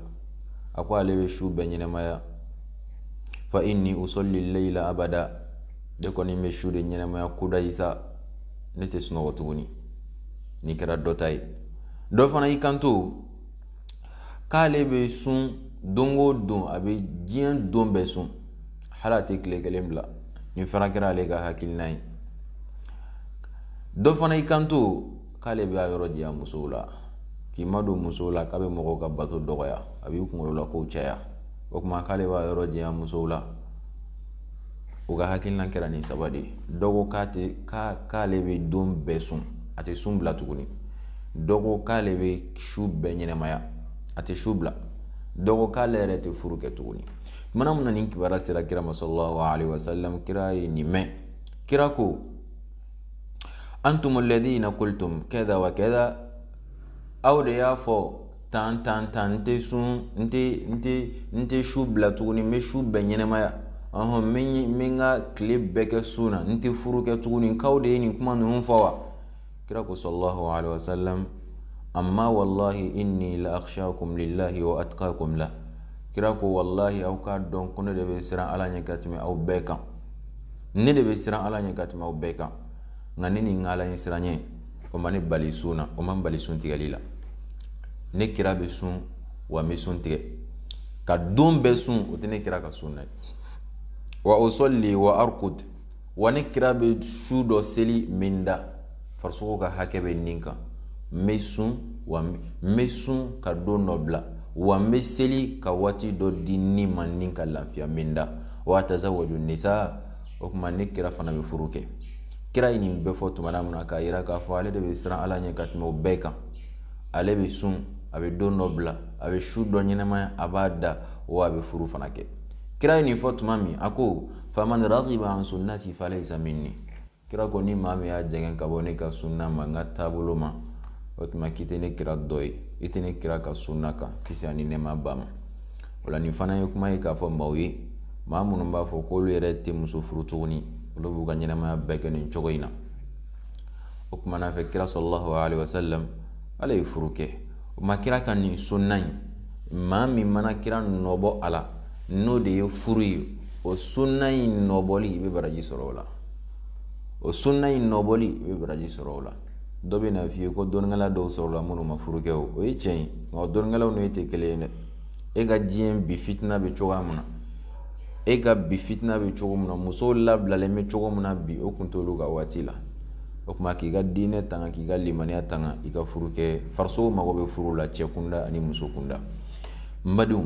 a ko ale bɛ su bɛɛ ɲɛnɛmaya fa inni usalli layla abada ne kɔni bɛ su de ɲɛnɛmaya kudayi sa ne tɛ sunɔgɔ tuguni nin kɛra dɔ ta ye dɔ fana y'i kanto k'ale bɛ sun don o don a bɛ diɲɛ don bɛɛ sun hali a tɛ tile kelen bila nin fana kɛra ale ka hakilina ye dɔ fana y'i kanto k'ale bɛ a yɔrɔ janya musow la k'i madon musow la k'a bɛ mɔgɔw ka bato dɔgɔya a b'i kunkolola kow caya o tuma k'ale b'a yɔrɔ janya musow la u ka hakilina kɛra nin saba de ye dɔ ko k'a tɛ k'ale bɛ don bɛɛ sun a tɛ sun bila tuguni dɔ ko k'ale bɛ su bɛɛ ɲɛnɛmaya a tɛ su bila dɔ ko k'ale yɛrɛ tɛ furu kɛ tuguni tumana min na nin kibaruya sera kira ma sallallahu alaihi wasallam kira ye nin mɛn kira ko antum alladhina qultum kadha wa kadha aw de y'a fɔ tan tan tan n tɛ sun n tɛ n tɛ n tɛ su bila tuguni n bɛ su bɛɛ ɲɛnɛmaya ɔhɔn n bɛ n bɛ n ka tile bɛɛ kɛ sun na n tɛ furu kɛ tuguni k'aw de ye nin kuma ninnu fɔ wa kira ko sallallahu alaihi wa sallam ama wallahi inni la akhshakum lillahi wa atqakum la kira ko wallahi aw k'a dɔn ko ne de bɛ siran ala ɲɛ ka tɛmɛ aw bɛɛ kan ne de bɛ siran ala ɲɛ ka tɛmɛ aw bɛɛ kan nka ne ni n ka ala ɲɛ siran ɲɛ o ma ne bali sun na o ma n bali sun tigɛli la ne kira bɛ sun wa n bɛ sun tigɛ ka don bɛɛ sun o tɛ ne kira ka sun na ye wa usalli wa arqud wa ne kira bɛ su dɔ seli n bɛ n da farisogo ka hakɛ bɛ ne kan n bɛ sun wa n bɛ sun ka don dɔ bila wa n bɛ seli ka waati dɔ di ni ma ni ka lafiya n bɛ n da wa atazawwaju nisa o kuma ne kira fana bɛ furu kɛ kira ye nin bɛɛ fɔ tumana min na k'a yira k'a fɔ ale de bɛ siran ala ɲɛ ka tɛmɛ o bɛɛ kan ale bɛ sun a bɛ don dɔ bila a bɛ su dɔ ɲɛnɛmaya a b'a da wa a bɛ furu fana kɛ kira ye nin fɔ tuma min a ko faman ragiba an sunnati falaysa minni kira ko ni maa min y'a jɛngɛ ka bɔ ne ka sunna ma n ka taabolo ma o tuma k'i tɛ ne kira dɔ ye i tɛ ne kira ka sunna kan kisi ani nɛɛma b'a ma o la nin fana ye kuma ye k'a fɔ maaw ye maa minnu b'a fɔ k'olu yɛrɛ tɛ muso furu tuguni olu b'u ka ɲɛnɛmaya bɛɛ kɛ nin cogo in na o kuma n'a fɛ kira sallallahu alayhi wa sallam ale ye furu kɛ o ma kira ka nin sunna in maa min mana kira nɔbɔ a la n'o de ye furu ye o sunna in nɔbɔli i bɛ baraji sɔrɔ o la o sunna in nɔbɔli i bɛ baraji sɔrɔ o la dɔ bɛ n'a f'i ye ko dɔnnikɛla dɔw sɔrɔla minnu ma furu kɛ o o ye tiɲɛ ye nka dɔnnikɛlaw n'o tɛ kelen ye dɛ e ka diɲɛ bi fitina bɛ cogoya min na e ka bi fitina bɛ cogo min na musow labilalen bɛ cogo min na bi o kun t'olu ka waati la o tuma k'i ka diinɛ tanga k'i ka limaniya tanga i ka furu kɛ farisogo mago bɛ furu la cɛ kunda ani muso kunda n badenw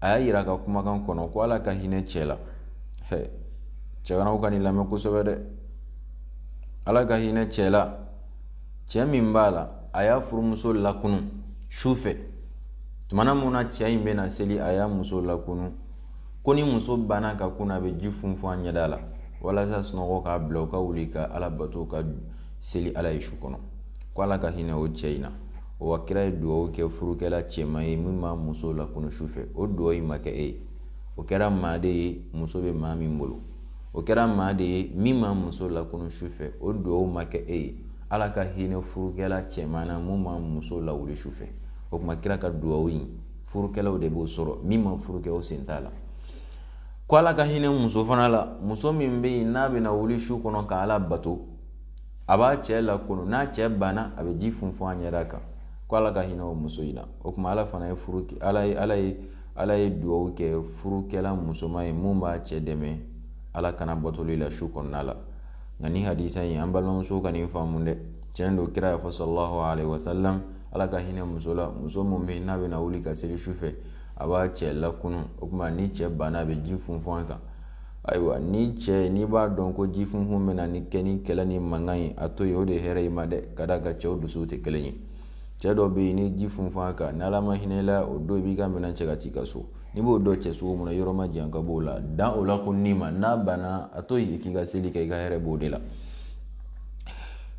a y'a jira a ka kumakan kɔnɔ ko ala ka hinɛ cɛ la cɛw ka nin lamɛn kosɛbɛ dɛ ala ka hinɛ cɛ la cɛ min b'a la a y'a furumuso lakun su fɛ tuma min na cɛ in bɛna seli a y'a muso lakun ko ni muso banna ka kun a bɛ ji funfun a ɲɛda la walasa sunɔgɔ k'a bila u ka wuli ka ala bato ka seli ala ye su kɔnɔ ko ala ka hinɛ o cɛ in na wa kira ye dugawu kɛ furukɛla cɛman ye min b'a muso lakunun su fɛ o dugawu in ma kɛ e ye o kɛra maa de ye muso bɛ maa min bolo o kɛra maa de ye min b'a muso lakunun su fɛ o dugawu ma kɛ e ye ala ka hinɛ furukɛla cɛman na min b'a muso lawuli su fɛ o tuma kira ka dugawu in furukɛlaw de b'o sɔrɔ min ma furu kɛ o sen t'a la ko ala ka hinɛ muso fana la muso min bɛ yen n'a bɛna wuli su kɔnɔ ka ala bato a b'a cɛ lakunun n'a cɛ banna a bɛ ji funfun a ɲɛda kan ko ala ka hinɛ o muso in na o tuma ala fana ye furu ala ye ala ye ala ye dugawu kɛ furukɛla musoman ye min b'a cɛ dɛmɛ ala kana batoli la su kɔnɔna la nka nin hadisi in an balimamusow ka nin faamu dɛ tiɲɛ don kira y'a fɔ sɔlɔlahu alayhi wa sallam ala ka hinɛ muso la muso min bɛ n'a bɛna wuli ka seli su fɛ a b'a cɛ lakunun o tuma ni cɛ banna a bɛ ji funfun a kan ayiwa ni cɛ n'i b'a dɔn ko ji funfun bɛ na ni kɛ ni kɛlɛ ni mankan ye a to yen o de hɛrɛ i ma dɛ ka d'a kan cɛw dusu tɛ kelen ye cɛ dɔ bɛ yen ni ji funfun a kan ni ala ma hinɛ i la o don b'i ka minɛn cɛ k'a ci i ka so n'i b'o dɔn cɛ sogo min yɔrɔ man jan ka b'o la dan o lakununni ma n'a banna a to yen k'i ka seli kɛ i ka hɛrɛ b'o de la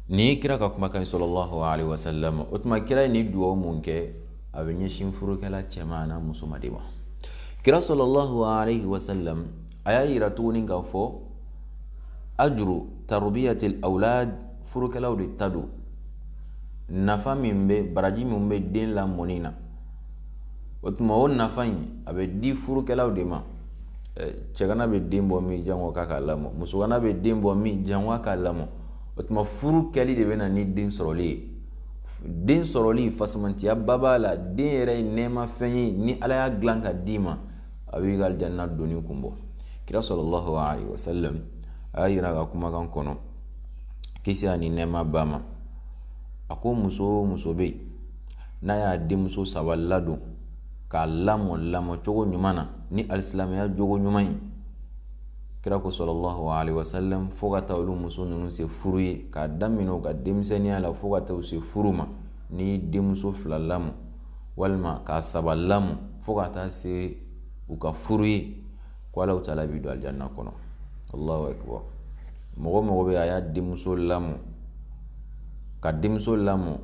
ni kira ka kumakan sɔlɔlahu wa o tuma kira ye nin dugawu min kɛ a bɛ ɲɛsin furukɛla cɛman n'a musoman de ma kira sɔlɔlahu alayhi wa sallam a y'a yira tuguni k'a fɔ ajuru tarubiyati awlad furukɛlaw de ta don nafa min bɛ baraji min bɛ den lamɔni na o tuma o nafa in a bɛ di furukɛlaw de ma cɛgana bɛ den bɔ min jango k'a ka lamɔ musogana bɛ den bɔ min jango k'a lamɔ o tuma furu kɛli de bɛ na ni den sɔrɔli ye den sɔrɔli fisamantiya ba b'a la den yɛrɛ ye nɛɛma fɛn ye ni ala y'a dilan ka d'i ma a b'i ka aljanna donni kun bɔ kira sɔlɔlɔhu alayhi wa sallam a y'a yira ka kumakan kɔnɔ kisi ani nɛɛma b'a ma a ko muso o muso bɛ yen n'a y'a denmuso saba ladon k'a lamɔ lamɔ cogo ɲuman na ni alisilamɛya jogo ɲuman ye kira ko sɔlɔlɔhu alayhi wa sallam fo ka taa olu muso ninnu se furu ye k'a daminɛ u ka denmisɛnninya la fo ka taa u se furu ma ni denmuso fila lamɔ walima k'a saba lamɔ fo ka taa se u ka furu ye ko ala taala b'i don alijanna kɔnɔ allahu akbar mɔgɔ o mɔgɔ bɛ a y'a denmuso lamɔ ka denmuso lamɔ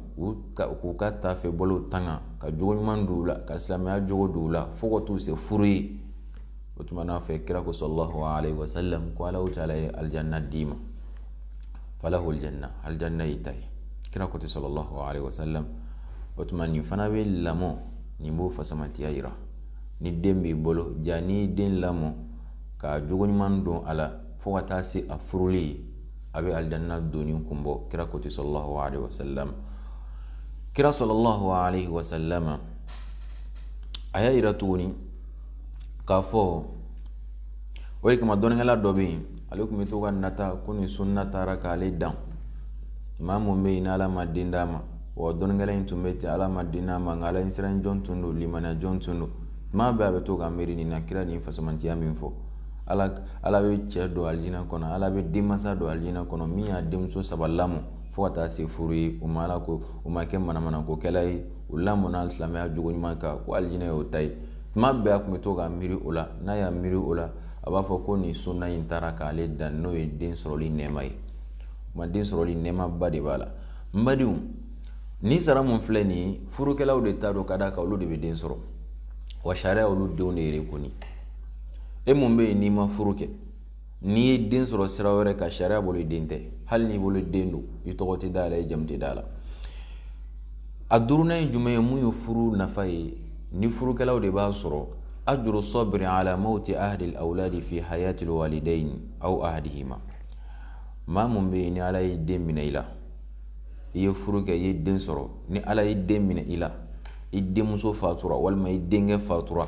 k'u ka tafe bolow tanga ka jogo ɲuman don u la ka silamɛya jogo don u la fo ka t'u se furu ye o tuma n'a fɛ kira ko sɔlɔlɔhu alayhi wa sallam ko ala taala ye alijanna d'i ma falahu alijanna alijanna y'i ta ye kira ko ten sɔlɔlɔhu alayhi wa sallam o tuma nin fana bɛ lamɔ nin b'o fisamantiya yira ni den b'i bolo ja n'i den lamɔ ka jogo ɲuman don a la fo ka taa se a furuli ye a bɛ alijanna donni kun bɔ kira ko ten sɔlɔlɔhu alayhi wa sallam kira sɔlɔlɔhu alayhi wa sallam a y'a yira tuguni k'a fɔ o de kama dɔnnikɛla dɔ bɛ yen ale tun bɛ to ka nata ko nin sunna taara k'ale dan maa min bɛ yen n'ala ma den d'a ma wa dɔnnikɛla in tun bɛ ten ala ma den d'a ma nka ala siran jɔn tun don limaniya jɔn tun don tuma bɛɛ a bɛ to ka miiri nin na kira nin fisamantiya min fɔ ala ala bɛ cɛ don alijina kɔnɔ ala bɛ denmansa don alijina kɔnɔ min y'a denmuso saba lamɔ fo ka taa se furu ye o ma ala ko o ma kɛ manamanakokɛla ye o lamɔna alisilamɛya jogo ɲuman kan ko alijinɛ y'o ta ye tuma bɛɛ a tun bɛ to ka miiri o la n'a y'a miiri o la a b'a fɔ ko nin sunna in taara k'ale dan n'o ye den sɔrɔli nɛɛma ye ma den sɔrɔli nɛɛmaba de b'a la n badenw nin sara min filɛ nin ye furukɛlaw de ta don ka d'a kan olu de bɛ den sɔrɔ wa sariya olu denw de yɛrɛ kɔni e min bɛ yen n'i ma furu kɛ n'i ye den sɔrɔ sira wɛrɛ kan sariya bolo i den tɛ hali n'i woloden don i tɔgɔ tɛ da yɛrɛ i jamu tɛ d'a la a duurunan ye jumɛn ye min ye furu nafa ye ni furukɛlaw de b'a sɔrɔ ajuru sabiri ala mawuti ahadi awladi fi hayati walidayini aw ahadihima maa min bɛ yen ni ala ye den minɛ i la i ye furu kɛ i ye den sɔrɔ ni ala ye den minɛ i la i denmuso fatura walima i denkɛ fatura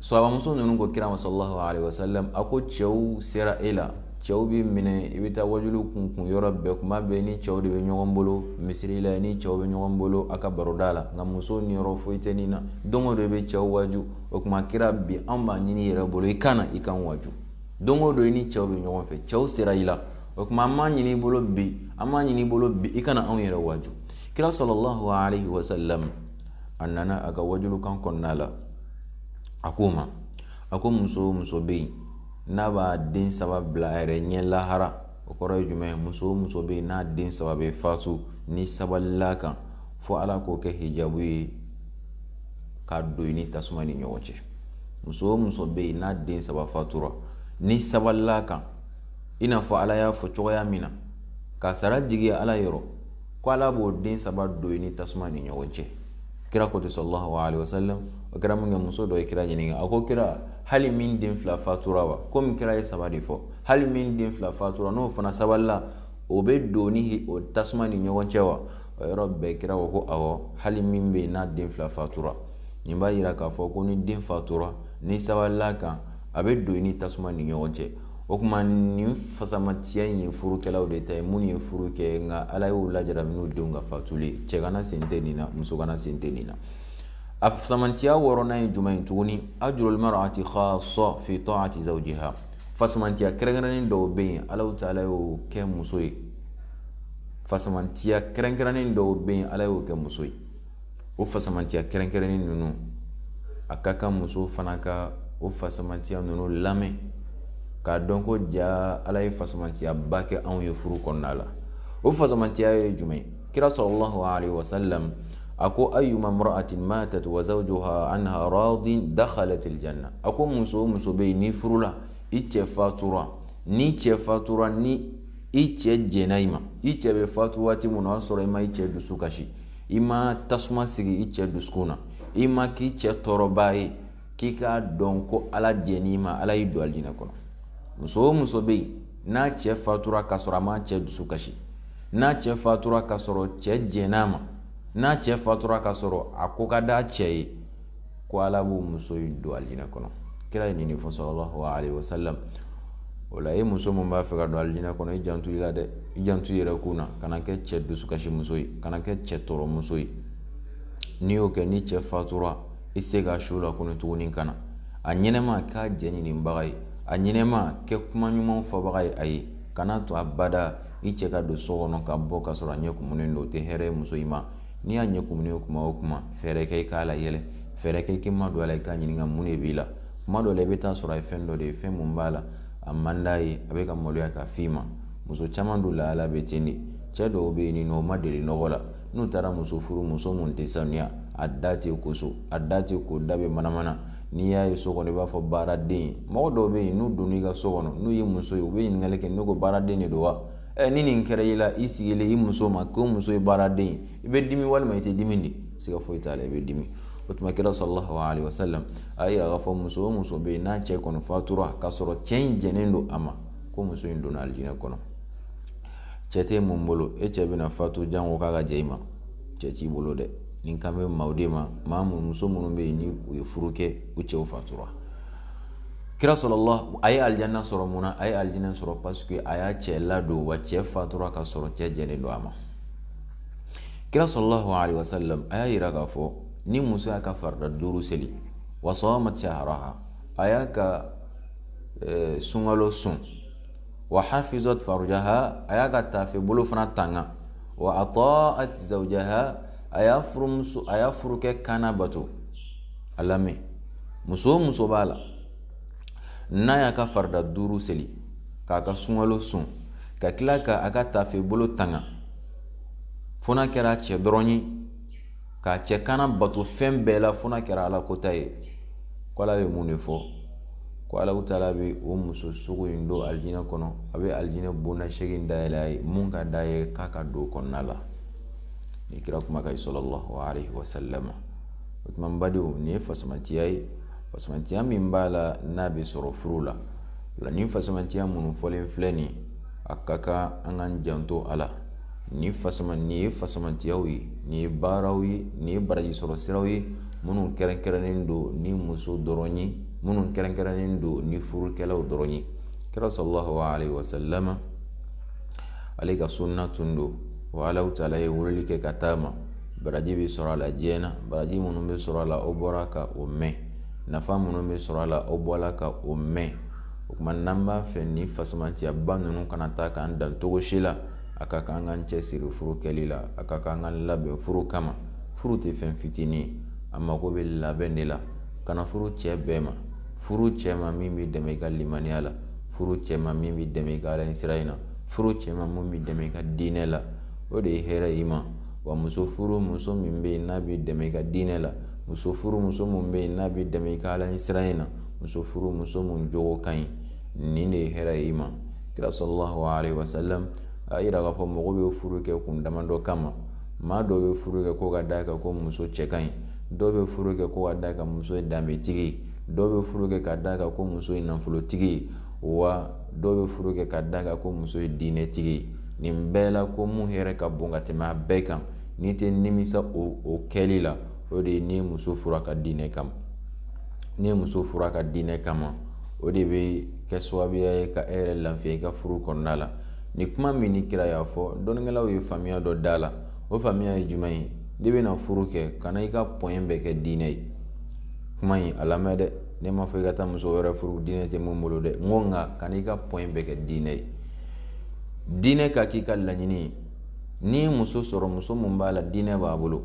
sahabamuso ninnu ko kira ma salalahu wa sallam a ko cɛw sera e la cɛw b'i minɛ i bɛ taa waju kun kun yɔrɔ bɛɛ tuma bɛɛ i ni cɛw de bɛ ɲɔgɔn bolo misiri la i ni cɛw bɛ ɲɔgɔn bolo a ka baroda la nka muso niyɔrɔ foyi tɛ nin na don o don i bɛ cɛw waju o tuma kira bi an b'a ɲini i yɛrɛ bolo i ka na i ka waju don o don i ni cɛw bɛ ɲɔgɔn fɛ cɛw sera i la o tuma an b'a ɲini i bolo bi an b'a ɲini i bolo bi i ka na anw yɛrɛ waju kira sɔlɔlɔhu alayhi wa a nana a ka wajulikan kɔnɔna la a k'u ma a ko muso o muso bɛ yen n'a b'a den saba bila a yɛrɛ ɲɛ lahara o kɔrɔ ye jumɛn ye muso o muso bɛ yen n'a den saba bɛ fatu n'a sabalila a kan fo ala k'o kɛ hijabu ye ka don a ni tasuma ni ɲɔgɔn cɛ muso o muso bɛ yen n'a den saba fatura n'a sabalila a kan i n'a fɔ ala y'a fɔ cogoya min na ka sara jigi ala yɔrɔ ko ala b'o den saba don i ni tasuma ni ɲɔgɔn cɛ kira ko ten sallallahu alayhi wa sallam o kɛra minkɛ muso dɔ ye kira ɲininka a ko kira hali min den fila fatura wa komi kira ye saba de fɔ hali min den fila fatura n'o fana sabalila o bɛ don ni o tasuma ni ɲɔgɔn cɛ wa o yɔrɔ bɛɛ kira ko ko awɔ hali min bɛ yen n'a den fila fatura nin b'a yira k'a fɔ ko n'i den fatura n'i sabalila a kan a bɛ don i ni tasuma ni ɲɔgɔn cɛ o tuma nin fasamantiya in ye furukɛlaw de ta ye minnu ye furu kɛ nka ala y'u lajara n'u denw ka fatuli cɛganan sen tɛ nin na musoganan sen tɛ nin na a fasamantiya wɔɔrɔnan ye jumɛn ye tuguni ajrul mar'ati khas fi ta'ati zawjiha fasamantiya kɛrɛnkɛrɛnnen dɔw bɛ yen ala taala y'o kɛ muso ye fasamantiya kɛrɛnkɛrɛnnen dɔw bɛ yen ala y'o kɛ muso ye o fasamaciya kɛrɛnkɛrɛnnen ninnu a ka kan muso fana ka o fasamaciya ninnu lamɛn k'a dɔn ko jaa ala ye fasamaciyaba kɛ anw ye furu kɔnɔna la o fasamaciya ye jumɛn ye kira sallallahu alaihi wasallam a ko ayyuma mra'atin matat wa zawjuha anha radin dakhalat aljanna a ko muso o muso bɛ yen n'i furula i cɛ fatura n'i cɛ fatura ni i cɛ jɛna i ma i cɛ bɛ fatu waati min na o y'a sɔrɔ i ma i cɛ dusu kasi i ma tasuma sigi i cɛ dusukun na i ma k'i cɛ tɔɔrɔbaa ye k'i k'a dɔn ko ala jɛn'i ma ala y'i don alijinɛ kɔnɔ muso o muso bɛ yen n'a cɛ fatura k'a sɔrɔ a m'a cɛ dusu kasi n'a cɛ fatura k'a sɔrɔ cɛ jɛn'a ma n'a cɛ fatura k'a sɔrɔ a ko ka d'a cɛ ye ko ala b'o muso in don alijinɛ kɔnɔ kira ye nin de fɔ sallallahu alaihi wasallam o la e muso min b'a fɛ ka don alijinɛ kɔnɔ i janto i la dɛ i janto i yɛrɛkun na kana kɛ cɛ dusukasi muso ye kana kɛ cɛ tɔɔrɔ muso ye n'i y'o kɛ n'i cɛ fatura i se ka su la kɔnɔ tuguni kana a ɲɛnɛma k'a jɛ ɲininbaga ye a ɲɛnɛma kɛ kuma ɲumanw fɔbaga ye a ye kana to abada i cɛ ka don so kɔnɔ ka bɔ ka sɔrɔ a ɲɛ kumunen don o tɛ hɛrɛ ye muso in ma n'i y'a ɲɛ kumunen ye kuma o kuma fɛɛrɛ kɛ i k'a layɛlɛ fɛɛrɛ kɛ i k'i madon a la i k'a ɲininka mun de b'i la kuma dɔ la i bɛ t'a sɔrɔ a ye fɛn dɔ de ye fɛn min b'a la a man d'a ye a bɛ ka maloya k'a f'i ma muso caman dun lahala bɛ ten de cɛ dɔw bɛ yen minnu ma deli nɔgɔ la n'u taara muso furu muso min tɛ sanuya a da tɛ ko so a da tɛ ko da bɛ manamana n'i y'a ye so kɔnɔ i b'a fɔ baaraden mɔgɔ dɔw bɛ yen n'u donn'i ka so kɔnɔ n'u ye muso ye u bɛ ɲininkali kɛ ne ko baaraden de don wa ɛ ni nin kɛra i la i sigilen i muso ma ko muso ye baaraden ye i bɛ dimi walima i tɛ dimi dɛ siga foyi t'a la i bɛ dimi o tuma kira sallallahu alaihi wasallam y'a yira k'a fɔ muso o muso bɛ yen n'a cɛ kɔni fatura k'a sɔrɔ cɛ in jɛnen don a ma ko muso in donna alijinɛ kɔnɔ cɛ tɛ min bolo e cɛ bɛna fatu janko k'a ka jɛ i ma cɛ t'i bolo dɛ nin kan bɛ maaw de ma maa mun muso minnu bɛ yen ni u ye furu kɛ u cɛw fatura kira sɔrɔla a ye alijanna sɔrɔ mun na a ye alijanna sɔrɔ paseke a y'a cɛ ladon wa cɛ fatura ka sɔrɔ cɛ jɛnnen don a ma kira sallallahu alayhi wa sallam a y'a yira k'a fɔ ni muso y'a ka farida duuru seli wa samat shahraha a y'a ka eh, sunkalo sun wa hafizat farjaha a y'a ka tafe bolo fana tanga wa ata'at zawjaha a y'a furumuso a y'a furukɛ kan nabato a lamɛn muso o muso b'a la n'a y'a ka farida duuru seli k'a ka sunkalo sun ka tila ka a ka tafe bolo tanga fo n'a kɛra a cɛ dɔrɔn ye k'a cɛ kan nabato fɛn bɛɛ la fo n'a kɛra ala kota ye ko ala bɛ mun de fɔ ko ala taala bɛ o muso sugu in don alijinɛ kɔnɔ a bɛ alijinɛ bonda seegin dayɛlɛ a ye min ka di a ye k'a ka don kɔnɔna la nin kira kumakan ye sallallahu alayhi wa salama o tuma badenw nin ye fasamatiya ye fasamatiya min b'a la n'a bɛ sɔrɔ furu la nin fasamatiya minnu fɔlen filɛ nin a ka kan an k'an janto a la nin fasama nin ye fasamatiyaw ye nin ye baaraw ye nin ye baraji sɔrɔ siraw ye minnu kɛrɛnkɛrɛnnen don ni muso dɔrɔn ye minnu kɛrɛnkɛrɛnnen don ni furukɛlaw dɔrɔn ye kira sallallahu alaihi wasallam ale ka sunna tun don wa ala taala ye weleli kɛ ka taa a ma baraji bɛ sɔrɔ a la diɲɛ na baraji minnu bɛ sɔrɔ a la aw bɔra ka o mɛn nafa minnu bɛ sɔrɔ a la aw bɔra ka o mɛn o tuma n'an b'a fɛ nin fasamaciyaba ninnu kana taa k'an dan cogo si la a ka kan k'an cɛ siri furu kɛli la a ka kan k'an labɛn furu kama furu tɛ fɛn fitinin a mago bɛ labɛn de la kana furu cɛ bɛɛ ma furu cɛ ma min b'i dɛmɛ i ka limaniya la furu cɛ ma min b'i dɛmɛ i ka ala siran na furu cɛ ma min b'i dɛmɛ i ka diinɛ la o de ye hɛrɛ ye i ma wa muso furu muso min bɛ yen n'a b'i dɛmɛ i ka diinɛ la muso furu muso min bɛ yen n'a b'i dɛmɛ i ka ala ɲɛsiran na muso furu muso min jogo ka ɲi nin de ye hɛrɛ ye i ma kira sallallahu alayhi wa sallam a y'a yira k'a fɔ mɔgɔ bɛ furu kɛ kun damadɔ kama maa dɔ bɛ furu kɛ ko ka d'a kan ko muso cɛ ka ɲi dɔw bɛ furu kɛ ko ka d'a kan muso ye danbetigi ye dɔw bɛ furu kɛ ka d'a kan ko muso ye nafolotigi ye wa dɔw bɛ furu kɛ ka d'a kan ko muso ye diinɛtigi ye nin bɛɛ la ko min hɛrɛ ka bon ka tɛmɛ a bɛɛ kan n'i tɛ nimisa o o kɛli la o de ye ni muso furu a ka diinɛ kama ni muso furu a ka diinɛ kama o de bɛ kɛ sababuya ye ka e yɛrɛ lafiya i ka furu kɔnɔna la nin kuma min ni kira y'a fɔ dɔnnikɛlaw ye faamuya dɔ d'a la o faamuya ye jumɛn ye n'i bɛna furu kɛ kana i ka pɔn bɛɛ kɛ diinɛ ye kuma in a lamɛn dɛ ne m'a fɔ i ka taa muso wɛrɛ furu diinɛ tɛ mun bolo dɛ n ko nka kan'i ka pɔn in bɛɛ kɛ diinɛ ye diinɛ ka k'i ka laɲini ye n'i ye muso sɔrɔ muso min b'a la diinɛ b'a bolo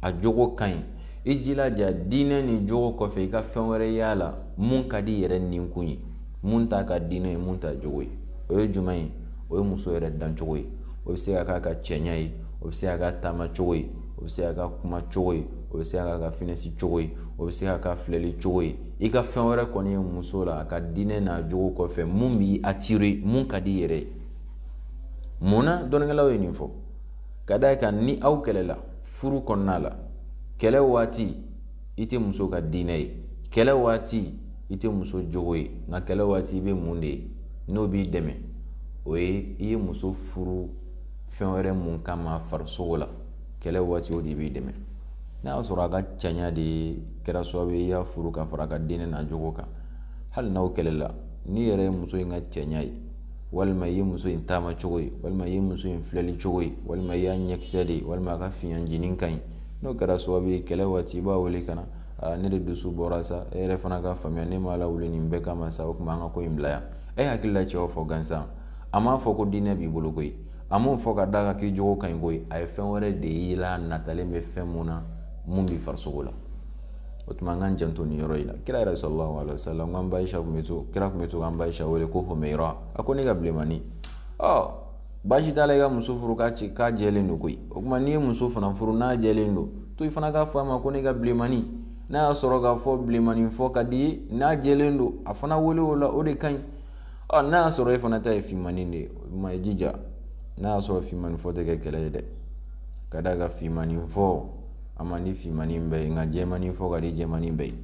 a jogo ka ɲi i jilaja diinɛ ni jogo kɔfɛ i ka fɛn wɛrɛ y'a la mun ka d'i yɛrɛ ninkun ye mun t'a ka diinɛ ye mun t'a jogo ye o ye jumɛn ye o ye muso yɛrɛ dancogo ye o bɛ se ka k'a ka cɛɲa ye o bɛ se ka k'a taama cogo ye o bɛ se ka k'a kuma cogo ye o bɛ se ka k'a finɛsi cogo ye o bɛ se ka k'a filɛli cogo ye i ka fɛn wɛrɛ kɔni ye muso la a ka diinɛ n'a jogo kɔfɛ mun b'i atire mun ka d'i yɛrɛ ye mun na dɔnnikɛlaw ye nin fɔ ka d'a kan ni aw kɛlɛla furu kɔnɔna la kɛlɛ waati i tɛ muso ka diinɛ ye kɛlɛ waati i tɛ muso jogo ye nka kɛlɛ waati i bɛ mun de ye n'o b'i dɛmɛ o ye i ye muso furu fɛn wɛrɛ mun kama farisogo la kɛlɛ waati o de b'i dɛmɛ n'a y'a sɔrɔ a ka cɛɲa de ye kɛra sababu ye i y'a furu ka fara a ka diinɛ n'a jogo kan hali n'aw kɛlɛla n'i yɛrɛ ye muso in ka cɛɲa ye walima i ye muso in taama cogo ye walima i ye muso in filɛli cogo ye walima i y'a ɲɛkisɛ de ye walima a ka fiɲɛjinin ka ɲi n'o kɛra sababu ye kɛlɛ waati i b'a wele ka na aa ne de dusu bɔra sa e yɛrɛ fana k'a faamuya ne m'a lawuli nin bɛɛ kama sa o tuma an ka ko in bila yan e hakili la cɛ y'o fɔ gansan a m'a fɔ ko diinɛ b'i bolo koyi a m'o fɔ ka d'a kan k'i jogo ka ɲi koyi a ye fɛn wɛrɛ de y'i la natalen bɛ fɛn mun na mun b'i farisogo la o tuma an k'an janto nin yɔrɔ in na kira yɛrɛ sallallahu alaihi wa sallam k'an ba ayisa kun bɛ to kira kun bɛ to k'an ba ayisa wele ko humayira a ko ne ka bilenmani ɔ baasi t'a la i ka muso furu k'a ci k'a jɛlen don koyi o tuma n'i ye muso fana furu n'a jɛlen don to i fana k'a fɔ a ma ko ne ka bilenmani n'a y'a sɔrɔ k'a fɔ bilenmani fɔ ka d'a ye n'a jɛlen don a fana wele o la o de ka ɲi ɔ n'a y'a sɔrɔ e fana ta ye finmani de ye o ma i jija n'a y'a sɔrɔ finmani fɔ tɛ kɛ kɛlɛ ye dɛ ka d'a kan finmani fɔ a man di finmani bɛɛ ye nka jɛmani fɔ ka di jɛmani bɛɛ ye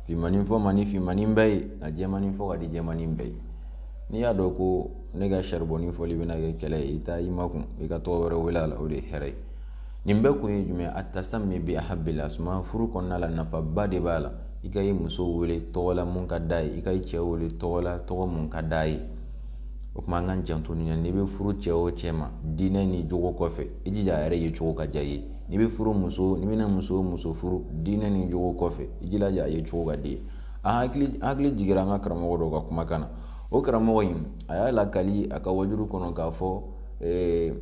finmani fɔ man di finmani bɛɛ ye nka jɛmani fɔ ka di jɛmani bɛɛ ye n'i y'a dɔn ko ne ka saribɔni fɔli bɛna kɛ kɛlɛ ye i t'i makun i ka tɔgɔ wɛrɛ wele a la o de ye hɛrɛ ye nin bɛɛ kun ye jumɛn attasammi bi ahabbil asma furu kɔnɔna la nafaba de b'a la i ka i muso wele tɔgɔ la mun ka d'a ye i ka i cɛ wele tɔgɔ la tɔgɔ mun ka d'a ye o tuma an k'an janto nin na n'i bɛ furu cɛ o cɛ ma diinɛ ni jogo kɔfɛ i jija a yɛrɛ ye cogo ka diy'i ye n'i bɛ furu muso n'i bɛna muso muso furu diinɛ ni jogo kɔfɛ i jilaja a ye cogo ka d'i ye an hakili hakili jigira an ka karamɔgɔ dɔw ka kumakan na o karamɔgɔ in a y'a lakali a ka waajuli kɔnɔ k'a fɔ eh,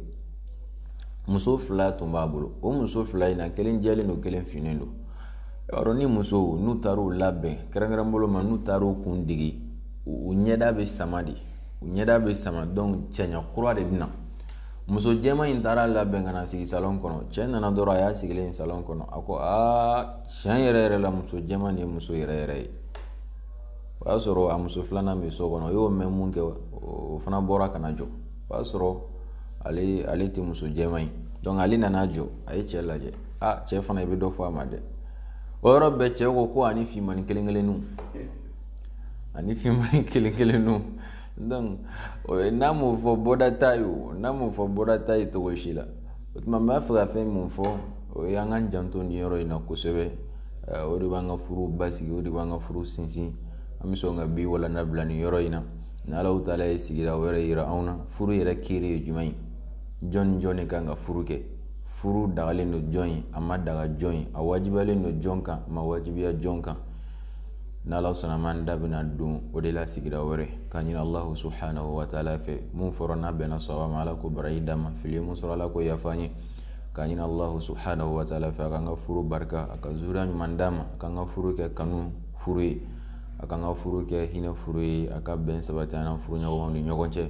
muso fila tun b'a bolo o muso fila in na kelen jɛlen don kelen finnen don yɔrɔ ni musow n'u taar'u labɛn kɛrɛnkɛrɛn bolo ma n'u taar'u kun digi u ɲɛda bɛ sama de u ɲɛda bɛ sama donc cɛɲa kura de bɛ na muso jɛma in taar'a labɛn ka na sigi salon kɔnɔ cɛ nana dɔrɔn a y'a sigilen ye salon kɔnɔ a ko aa tiɲɛ yɛrɛ yɛrɛ la muso jɛma nin ye muso yɛrɛ yɛrɛ ye o y'a sɔrɔ a muso filanan bɛ so kɔnɔ o y'o mɛn mun kɛ o fana bɔra ka na jɔ o y'a sɔrɔ ale ale tɛ muso jɛma ye donc ale nana jɔ a ye cɛ lajɛ aa cɛ fana i bɛ dɔ fɔ a ma dɛ o yɔrɔ bɛɛ cɛ ko ko ani finmani kelen kelenninw ani finmani kelen kelenninw donc n'a m'o fɔ bɔda t'a ye o n'a m'o fɔ bɔda t'a ye cogo si la o tuma n b'a fɛ ka fɛn min fɔ o ye an k'an janto nin yɔrɔ in na kosɛbɛ o de b'an ka furu basigi o de b'an ka furu sinsin an bɛ sɔn ka bi walanda bila nin yɔrɔ in na ni allahu taala ye sigira wɛrɛ yira anw na furu yɛrɛ kiri ye jumɛn ye jɔn ni jɔn de kan ka furu kɛ furu dagalen don jɔn ye a ma daga jɔn ye a wajibiyalen don jɔn kan a ma wajibiya jɔn kan n'ala sɔnn'a ma an da bɛna don o de la sigira wɛrɛ ka ɲini allahu subhanahu wa taala fɛ min fɔra n'a bɛnna sɔrɔ ma ala k'o baraji d'an ma fili min sɔrɔ ala k'o yafa an ye ka ɲini allahu subhanahu wa taala fɛ a k'an ka furu barika a ka zuriya ɲuman d'an ma a k'an ka furu kɛ kanu furu ye a k'an ka furu kɛ hinɛ furu ye a ka bɛn sabati an furu ɲɔgɔnw ni ɲɔgɔn cɛ